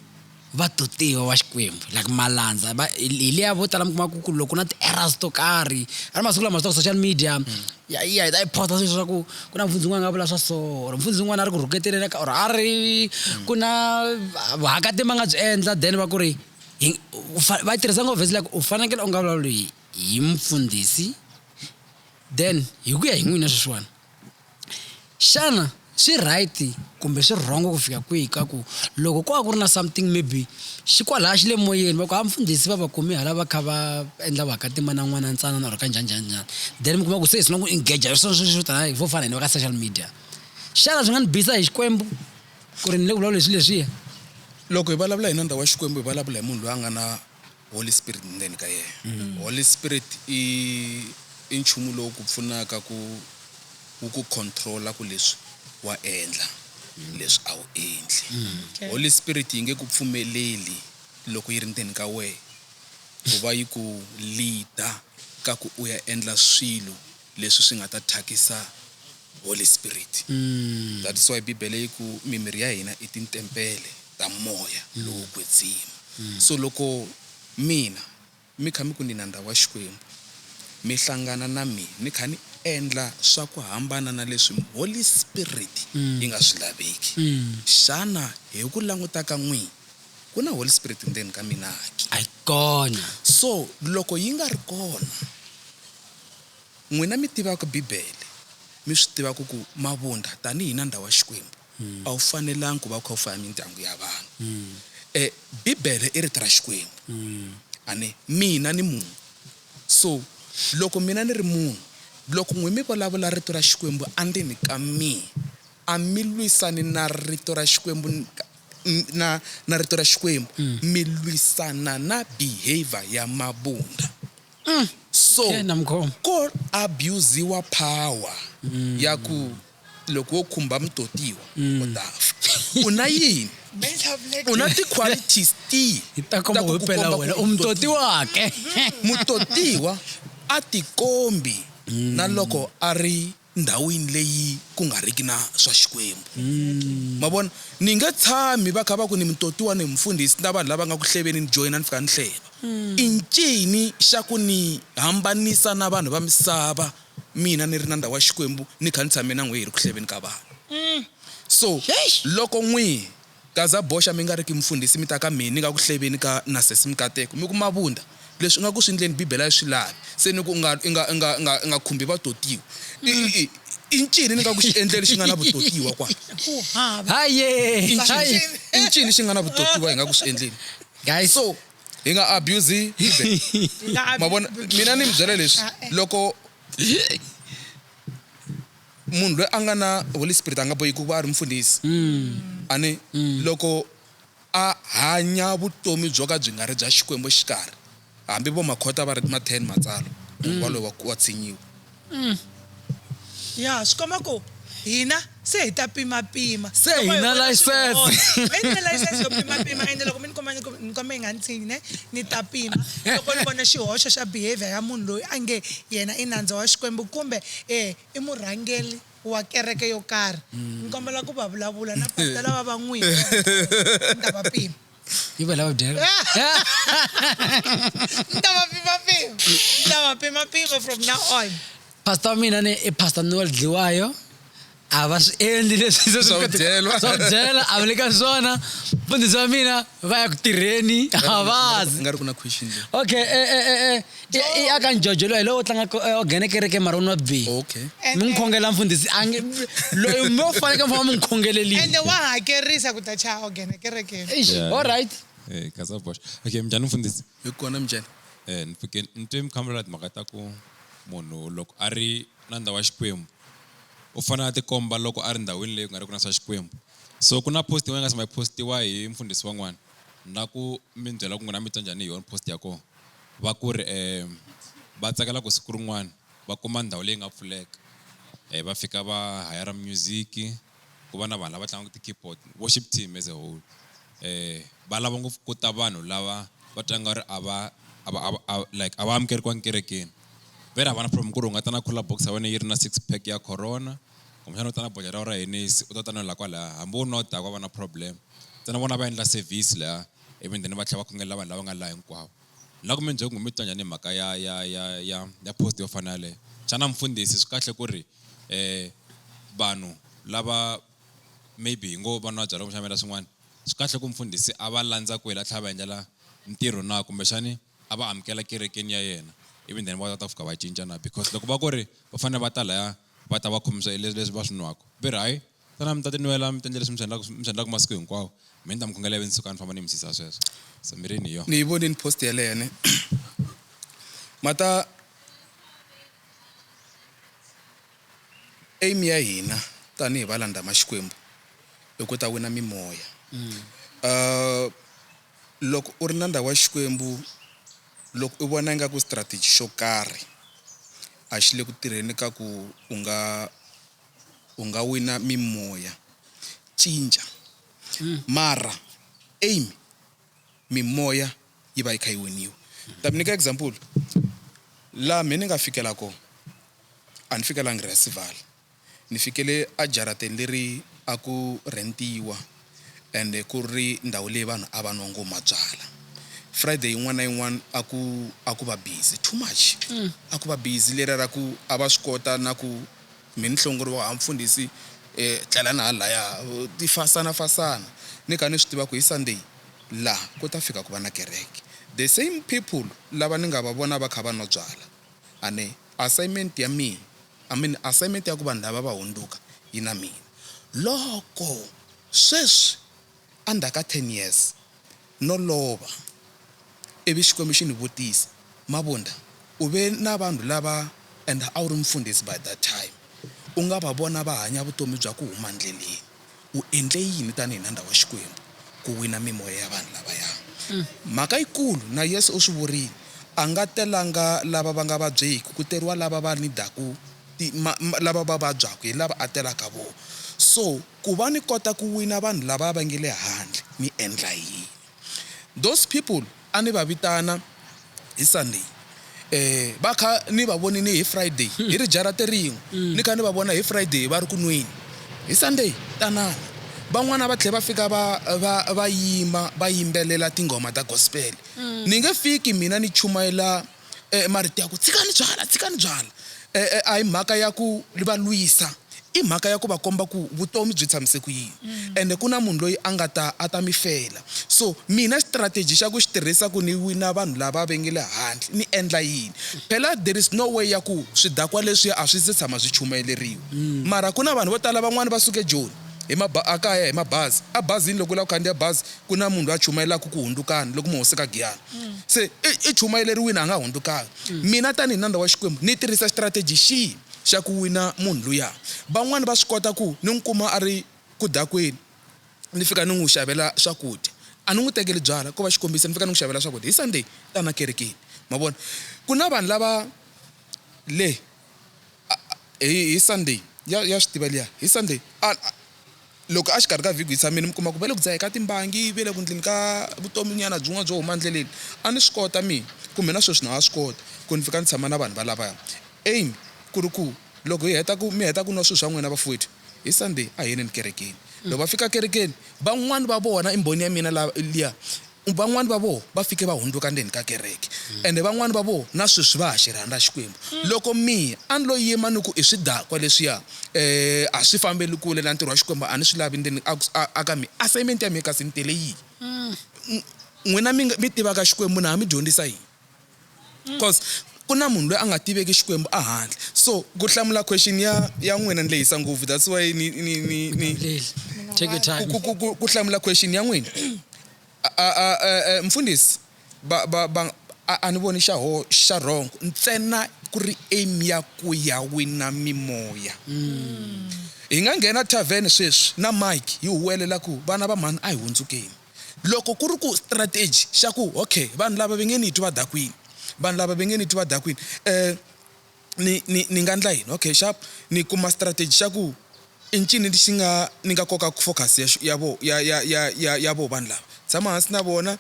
va dotiwa wa xikwembu like malandza va hi hi liya vo tala mi kuma ku ku loko ku na ti-errors to karhi a ri masiku lama swi social media ya ya hi ta yi posta sweswi swa ku ku na mfundzi un'wana a nga vula swa so or mfundzi un'wana a ri ku rhuketeleni ka or a ri ku na vuhakatimi a nga byi endla then va ku ri hi u fa- va yi tirhisa ngopfu vhesi like u fanekele u nga vulavuli hi hi mfundhisi then hi ku ya hi n'wina sweswiwani xana swi right kumbe swi wrong ku fika kwihi ka ku loko ko va ku ri na something maybe xi kwalaya xi le moyeni va ku ha mfundhisi va va kumi hala va kha va endla va ka tima na n'wana ntsanana or ka njhani njhani njhani then mi kuma ku se hi sina ku engage hi swona sweswi swo tala hi vo fana hina va ka social media xana swi nga ni bisa hi xikwembu ku ri ni le ku vulavula leswi leswiya loko hi vulavula hi na ndhawu wa xikwembu hi vulavula hi munhu loyi a nga na Holy Spirit ndzeni ka yena. Mm. Holy Spirit i i nchumu lowu ku pfunaka ku wu ku controla ku leswi wa endla mm. leswi a wu endli. Mm. Okay. Holy Spirit yi nge ku pfumeleli loko yi ri ndzeni ka wena ku va yi ku leader ka ku u ya endla swilo leswi swi nga ta thyakisa Holy Spirit. That is why Bibele yi ku mimiri ya hina i tintempele ta moya lowo kwetsima. So loko mina mi kha mi ku ni na ndhawu ya Xikwembu, mi hlangana na mina ni kha ni endla swa ku hambana na leswi Holy Spirit yi nga swi laveki, xana hi ku languta ka n'wina ku na Holy Spirit ndzeni ka mina ke? So loko yi nga ri kona. N'wina mi tivaka Bibele, mi swi tivaka ku mavundha tanihi nandza wa Xikwembu a wu fanelangi ku va wu kha wu faya mindyangu ya vanhu. E, Bibele i Rito ra Xikwembu. A ni, mina ni munhu. So, loko mina ni ri munhu, loko n'wina mi vulavula Rito ra Xikwembu andzeni ka mina, a mi lwisani na Rito ra Xikwembu na, na Rito ra Xikwembu, mi lwisana na behavior ya mavundha. So Yena mkhombo. ko abusiwa power ya ku loko wo khumba mutotiwa u ta fa. U na yini? U na ti-qualities tihi Hi ta ta komba ku ku himpela komba ku wena u u mutoti wake. mutotiwa a tikombi na loko a ri ndhawini leyi ku nga riki na swa Xikwembu. Ma vona? Ni nge tshami va kha va ku ni mutotiwa, ni mufundhisi, na vanhu lava nga ku hleveni, ni joyina, ni fika ni hleva. I ncini xa ku ni hambanisa na vanhu va misava, mina ni ri na ndhawu ya Xikwembu, ni kha ni tshame na n'we hi ri ku hleveni ka vanhu? So, loko n'wi. Gaza boxa mi nga ri ki mufundhisi mi ta ka mina ni nga ku hleveni ka na sesi mikateko mi ku mavunda leswi ingaku swi ndleni bibele a yi swi lavi se ni ku inga inga inga inga inga khumbi vatotiwa i i i i ncini ni nga ku xi endle lexi nga na vutotiwa kwala ku hava i ncini i ncini xi nga na vutotiwa hi nga ku swi endleni guys so hi nga abuse bibele mavona mina ni mi byela leswi loko Munhu loyi a nga na Holy Spirit a nga boheki ku va a ri mufundhisi. A ni? Loko a hanya vutomi byo ka byi nga ri bya Xikwembu exikarhi, hambi vo Makhota va ri ma 10 Matsalwa, munhu waloye wa wa tshinyiwa. Ya, swi komba ku hina se hi ta pimapima. Se Loko hi hi na vona swi nga license. onha, mi ni ni license yo pimapima ende loko mi ni kuma ni ku ni kombela hi nga ni tshinyi ne, ni ta pima loko ni vona xihoxo xa behaviour ya munhu loyi a nge yena i nandza wa Xikwembu kumbe E, i murhangeli wa kereke yo karhi. Ni kombela ku va vulavula na pastor lava va n'wi hi Kreste. Ni ta va pima. Yi va lava dyela. Ni ta va pima pima. Ni ta va pima pima from now on. Pastor wa mina ni i Pastor Noel Dliwayo. a va swi endli leswi se swi Swa ku byelwa. swa ku byela a va le ka swona mfundhisi wa mina va ya ku tirheni a va zi nga ri ku na question leyi okay eh, eh, eh, eh, i- i aka njojo loyi lowo tlanga ko- eh, o nghene kereke mara u nwa bihi okay mi n'wi khongela mfundhisi a nge loyi mo faneke mi famba mi n'wi khongelelile ende wa hakerisa ku ta chaya ogene kerekeni Eish, Yeah. all right Eh, kaza bosh okay mjani mfundhisi hi kona mjani Eh, ni pfuke ni twe mi khamela timhaka ta ku munhu loko a ri na ndhawu wa xikwembu u fanele a tikomba loko a ri ndhawini leyi ku nga ri ku na swa Xikwembu. So ku na post yin'wana yi nga se ma yi postiwa hi mfundhisi wan'wana na ku mi ni byela ku n'wina mi twa njhani hi yona post ya kona va ku ri um va tsakela ku siku rin'wana va kuma ndhawu leyi nga pfuleka va fika va hayara music ku va na vanhu lava tlangaka ti-keyboard, worship team as a whole va lava ngopfu ku ta vanhu lava va twa nga ri a va a va a va a like a va amukeriwanga kerekeni. Vhele a va na problem ku ri u nga ta na cooler box ya wena yi ri na six pack ya Corona kumbexana u ta na bodlhela ra wena ra Hennessy u ta ta nwela kwalaya hambi wo nwa daku a va na problem ntsena vona a va endla service lahaya ivi then va tlhela va khongelela vanhu lava nga laha hinkwavo. Ni lava ku mi byela ku mi twa njhani hi mhaka ya ya ya ya ya post yo fana na yaleyo. Xana mfundhisi swi kahle ku ri vanhu lava maybe hi ngo va nwa byalwa kumbexana va endla swin'wana swi kahle ku mfundhisi a va landza kwele a tlhela a va endlela ntirho na kumbexani a va amukela kerekeni ya yena ivi then va ta fika va cinca na because loko va ku ri va fanele va ta laya va ta va khomisa leswi va swi nwaka va ri hayi tana mi ta ti nwela mi tendle leswi mi swi endlaka mi swi endlaka masiku hinkwawo mi ni ta mi khongela ivi ni suka ni famba ni mi sisa sweswo so mirini hi yona ni yi vonini post yeleyo ne mata aim ya hina tanihi valandhama xikwembu i ku ta wina mimoya uh, loko u ri na ndhawu ya xikwembu loko u vona ingaku strategy xo karhi a xi le ku tirheni ka ku u nga u nga wina mimoya. Cinca. Mara, aim, mimoya yi va yi kha yi winiwa. Ni ta mi nyika example. Laha mehe ni nga fikela kona, a ni fikelangi Rhasivala. Ni fikele ejarateni leri a ku rhentiwa. ende ku ri ndhawu leyi vanhu a va nwa ngoma byala. Friday yin'wana na yin'wana a ku a ku va busy too much, a ku va busy leriya ra ku a va swi kota na ku mi ni hlongoriwa haa mfundhisi tlelani hala lahaya ti fasanafasana ni kha ni swi tiva ku hi Sunday laha ku ta fika ku va na kereke. The same people lava ni nga va vona va kha va nwa byala A ni assignment ya mina, I mean assignment ya ku vanhu lava va hundzuka yi na mina. Loko sweswi endzhaku ka ten years no lova ivi Xikwembu xi ni vutisa, Mabunda, u ve na vanhu lava and a wu ri mufundhisi by that time, u nga va vona va hanya vutomi bya ku huma ndleleni. U endle yini tanihi nandza wa Xikwembu ku wina mimoya ya vanhu lavaya? Mhaka yikulu, na Yesu u swi vurile, A nga telanga lava va nga vabyeki, ku teriwa lava va nidaku, lava va vabyaku hi lava a telaka vona. So, ku va ni kota ku wina vanhu lavaya va nge le handle, ni endla yini? Those people a ni va vitana hi Sunday va kha ni va vonini hi Friday hi ri jarate rin'we ni kha ni va vona hi Friday va ri ku nweni hi Sunday tanani van'wana va tlhe va fika va va va yima va yimbelela tinghoma ta gospel ni nge fiki mina ni chumayela e marito ya ku tshikani byala tshikani byala e a hi mhaka ya ku va lwisa i mhaka ya ku va komba ku vutomi byi tshamise ku yini mm. ende ku na munhu loyi a nga ta a ta mi fela so mina strategy xa ku xi tirhisa ku ni wina vanhu lava ve nge le handle ni endla yini phela there is no way ya ku swidakwa leswi a swi se tshama swi chumayeleriwa mm. mara ku na vanhu vo tala van'wani va suke joni hi a kaya hi mabazi a bazini loko u lava ku khandziya bazi ku na munhu loyi a chumayelaka ku hundzukani loko mi hoseka giyani mm. se i chumayeleriwini a nga hundzukanga mm. mina tanihi nandza wa xikwembu ni tirhisa strategy xihi xa ku wina munhu luya van'wani va swi kota ku ni n'wi kuma a ri ku dakweni ni fika ni n'wi xavela swakudya a ni n'wi tekeli byala ko va xikombiso ni fika ni n'wi xavela swakudya hi sunday ta na kerekeni ma vona ku na vanhu lava le Hi hi Sunday ya ya swi tiva liya hi Sunday a loko a xikarhi ka vhiki hi tshamile mi kuma ku va le ku dzaheni ka timbangi va le ku endleni ka vutomi nyana byin'wana byo huma endleleni a ni swi kota mina kumbe na sweswi na ha swi kota ku ni fika ni tshama na vanhu va lavaya aim ku ri ku loko hi heta ku mi heta ku nwa swilo swa n'wina vafowethu hi Sunday a hi yeleni kerekeni loko va fika kerekeni van'wani va vona i mbhoni ya mina la liya. Van'wana va vona va fike va hundzuka ndzeni ka kereke, ende van'wana va vona na sweswi va ha xi rhandza Xikwembu. Loko mina a ni lo yima ni ku, I swidakwa leswiya, e, a swi fambeli kule na ntirho wa Xikwembu, a ni swi lavi ndzeni aka mina, assignment ya mina kasi ni tele yini? N'wina mi tivaka Xikwembu, na ha mi dyondzisa yini? Cos ku na munhu loyi a nga tiveki Xikwembu a handle. So ku hlamula question ya ya n'wina ni lehisa ngopfu that's why ni ni ni ni Take your time. ku ku ku ku hlamula question ya n'wina a a a mfundhisi ba ba ba a a ni voni xa ho xa wrong ntsena ku ri aim ya ku ya wina mimoya. Hi nga nghena tavern sweswi na Mike hi huwelela ku vana va mhani a hi hundzukeni. Loko ku ri ku strategy xa ku ok vanhu lava va nge ni twi va dakwini vanhu lava va nge ni twi va dakwini ni ni ni nga endla yini ok xap ni kuma strategy xa ku i ncini lexi nga ni nga kokaka focus ya ya vona ya ya ya ya ya vona vanhu lava tshama hansi na vona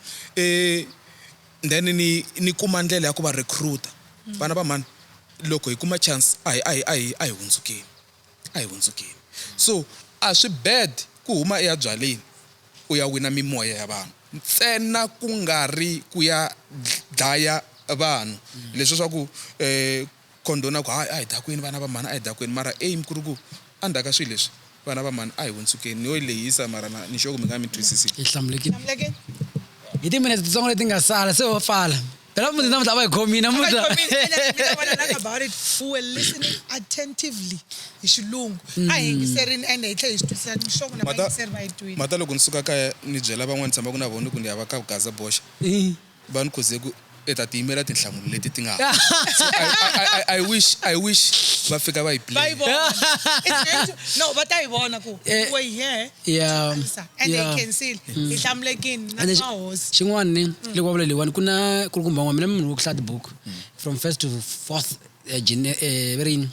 then ni ni kuma ndlela ya ku va recruit-a vana va mhani loko hi kuma chance a hi a hi a hi a hi hundzukeni. a hi hundzukeni so a swi bad ku huma eya byaleni u ya wina mimoya ya vanhu ntsena ku nga ri ku ya dlaya vanhu leswi swa ku eh condona ku hayi a hi dakwini vana va mhani a hi dakwini mara aim ku ri ku endzhaku ka swilo leswi vana va mhani a hi hundzukeni ni yo yi lehisa mara na ni sure ku mi nga mi twisisi hi hlamulekile Hlamulekile. hi timinete titsongo leti nga sala se ho pfala Era mudzi na mudzi ava gomi na mudzi. about it who were listening attentively hi xilungu a hi yingiserini ende hi tlhe hi swi twisisa nhloko na vayingiseri va yi twile mata loko ni suka kaya ni byela van'wana tshama ku na vona ku ni ya va ka gaza boxa va ni khuze ku i ta ti yimela tinhlamulo leti ti nga So, I, I, I, I wish i wish va fika va yi va yi play vona It's going to- no va ta yi vona ku Eh. we're here ya and ya. they can see hi hlamulekini na And then xi- mahosi xin'wana ni Mm. loko va vula leyiwani ku na ku ri kumba n'wana mina munhu wo ku hlaya tibuku Mm. from first to fourth eh, gene- eh, va ri yini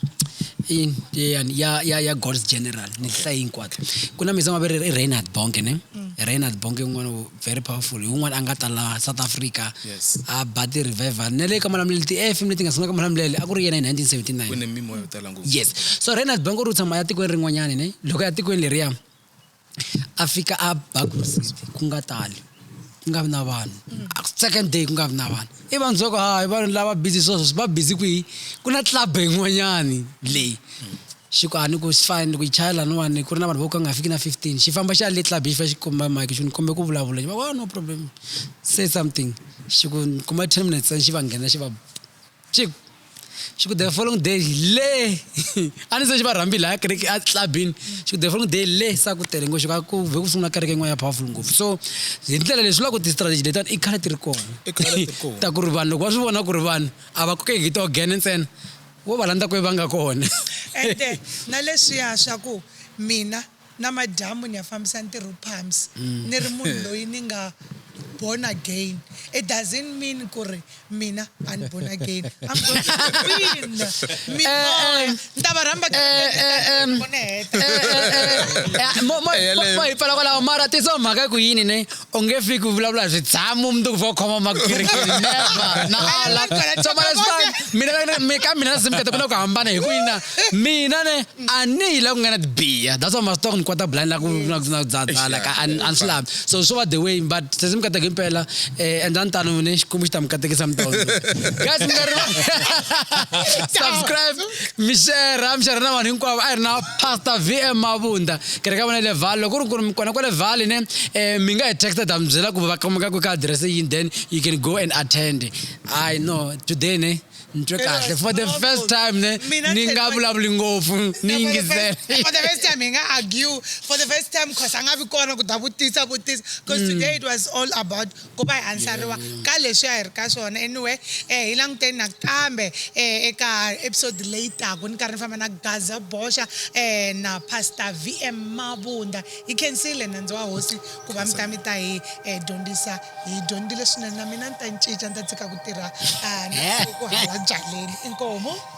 I yini? Yeyani? ya ya ya god's general ni ti hlaye hinkwato ku na mizama va ri i reinhard bonke ne Mm. reinhard bonke un'wana wo- very powerful hi un'wana a nga ta laha south africa Yes. a ba ti-revival na le ka malamulelo ti-fm leti nga sungula ka malamulelo a ku ri yena hi ku ne 1979 mimoya yo tala yes so renald bank u ri u tshama ya tikweni rin'wanyana ne loko ya tikweni leriya a fika a ba grocery ku nga tali ku nga vi na vanhu second day ku nga vi na vanhu i vanhu soko ha i vanhu lava busy sweswo va busy kwihi ku na club yin'wanyani leyi xi ku a ni ku swi fani ni ku yi chaya laniwani ku ri na vanhu vo ka nga fiki na fifteen xi famba xi ya le club xi fa xi komba mike xi ni kombe ku vulavula xi va wa no problem say something xi ku kuma ten minutes xi va nghena xi va Chiku, Chiku, the following day le a ni se xi va rhambi laya kereke a clubini Chiku, the following day le sa ku tele ngo xika ku ve ku sungula kereke yin'wana ya powerful ngopfu so hi ndlela leswi lava ku ti-strategy letiwani i khale ti ri kona ta ku ri vanhu loko va swi vona ku ri vanhu a va kokeki hi tiogene ntsena vo va landza kwe va nga kona ende na leswiya swa ku mina Namadyambu ni ya fambisa ntirho pams ni ri munhu loyi ni nga born again it doesn't mean ku ri mina a ni born again I'm going to win mimoya ni ta va rhamba mo hi pfala kwalaho mara tiso mhaka ku yini ne u nge fiki ku vulavula hi swidzamu mundzuku va khoma makirikiri never na ala mina ka mina na simkete ku na ku hambana hi ku yina mina ne a ni yi la ku nga na tibiya that's why masito ku ni kwata blind la ku na ku na dzadzala ka a ni swi lavi so swo va the way but se simkete ku impela eh endla ni tano ne xikwembu xi ta mi katekisa mi tona guys mi nga ri subscribe mi share mi share na vanhu hinkwavo a hi ri na Pastor VM Mabunda kereke ya vona le Vaal loko ri ku ri kona kwale Vaal ne eh mi nga hi texta ta mi byela ku va kumeka ku ka address yini then you can go and attend i know today ne ni twe kahle for the first time ne ni nga vulavuli ngopfu ni yingisela for the first time hi nga argue for the first time cause a nga vi kona ku ta vutisa vutisa cause mm. today it was all about Ku va hi ansariwa ka leswi a hi ri ka swona. Anyway, eh, hi languteni nakambe, eh, eka episode leyi taka. Ni karhi ni famba na Gaza Boxa, eh, na Pastor VM Mabunda. Hi khensile nandzu wa Hosi ku va mi ta mi ta hi, eh, dyondzisa. Hi dyondzile swinene. Na mina ni ta cinca, ni ta tshika ku tirha, ah, na ku hava byaleni. Inkomu.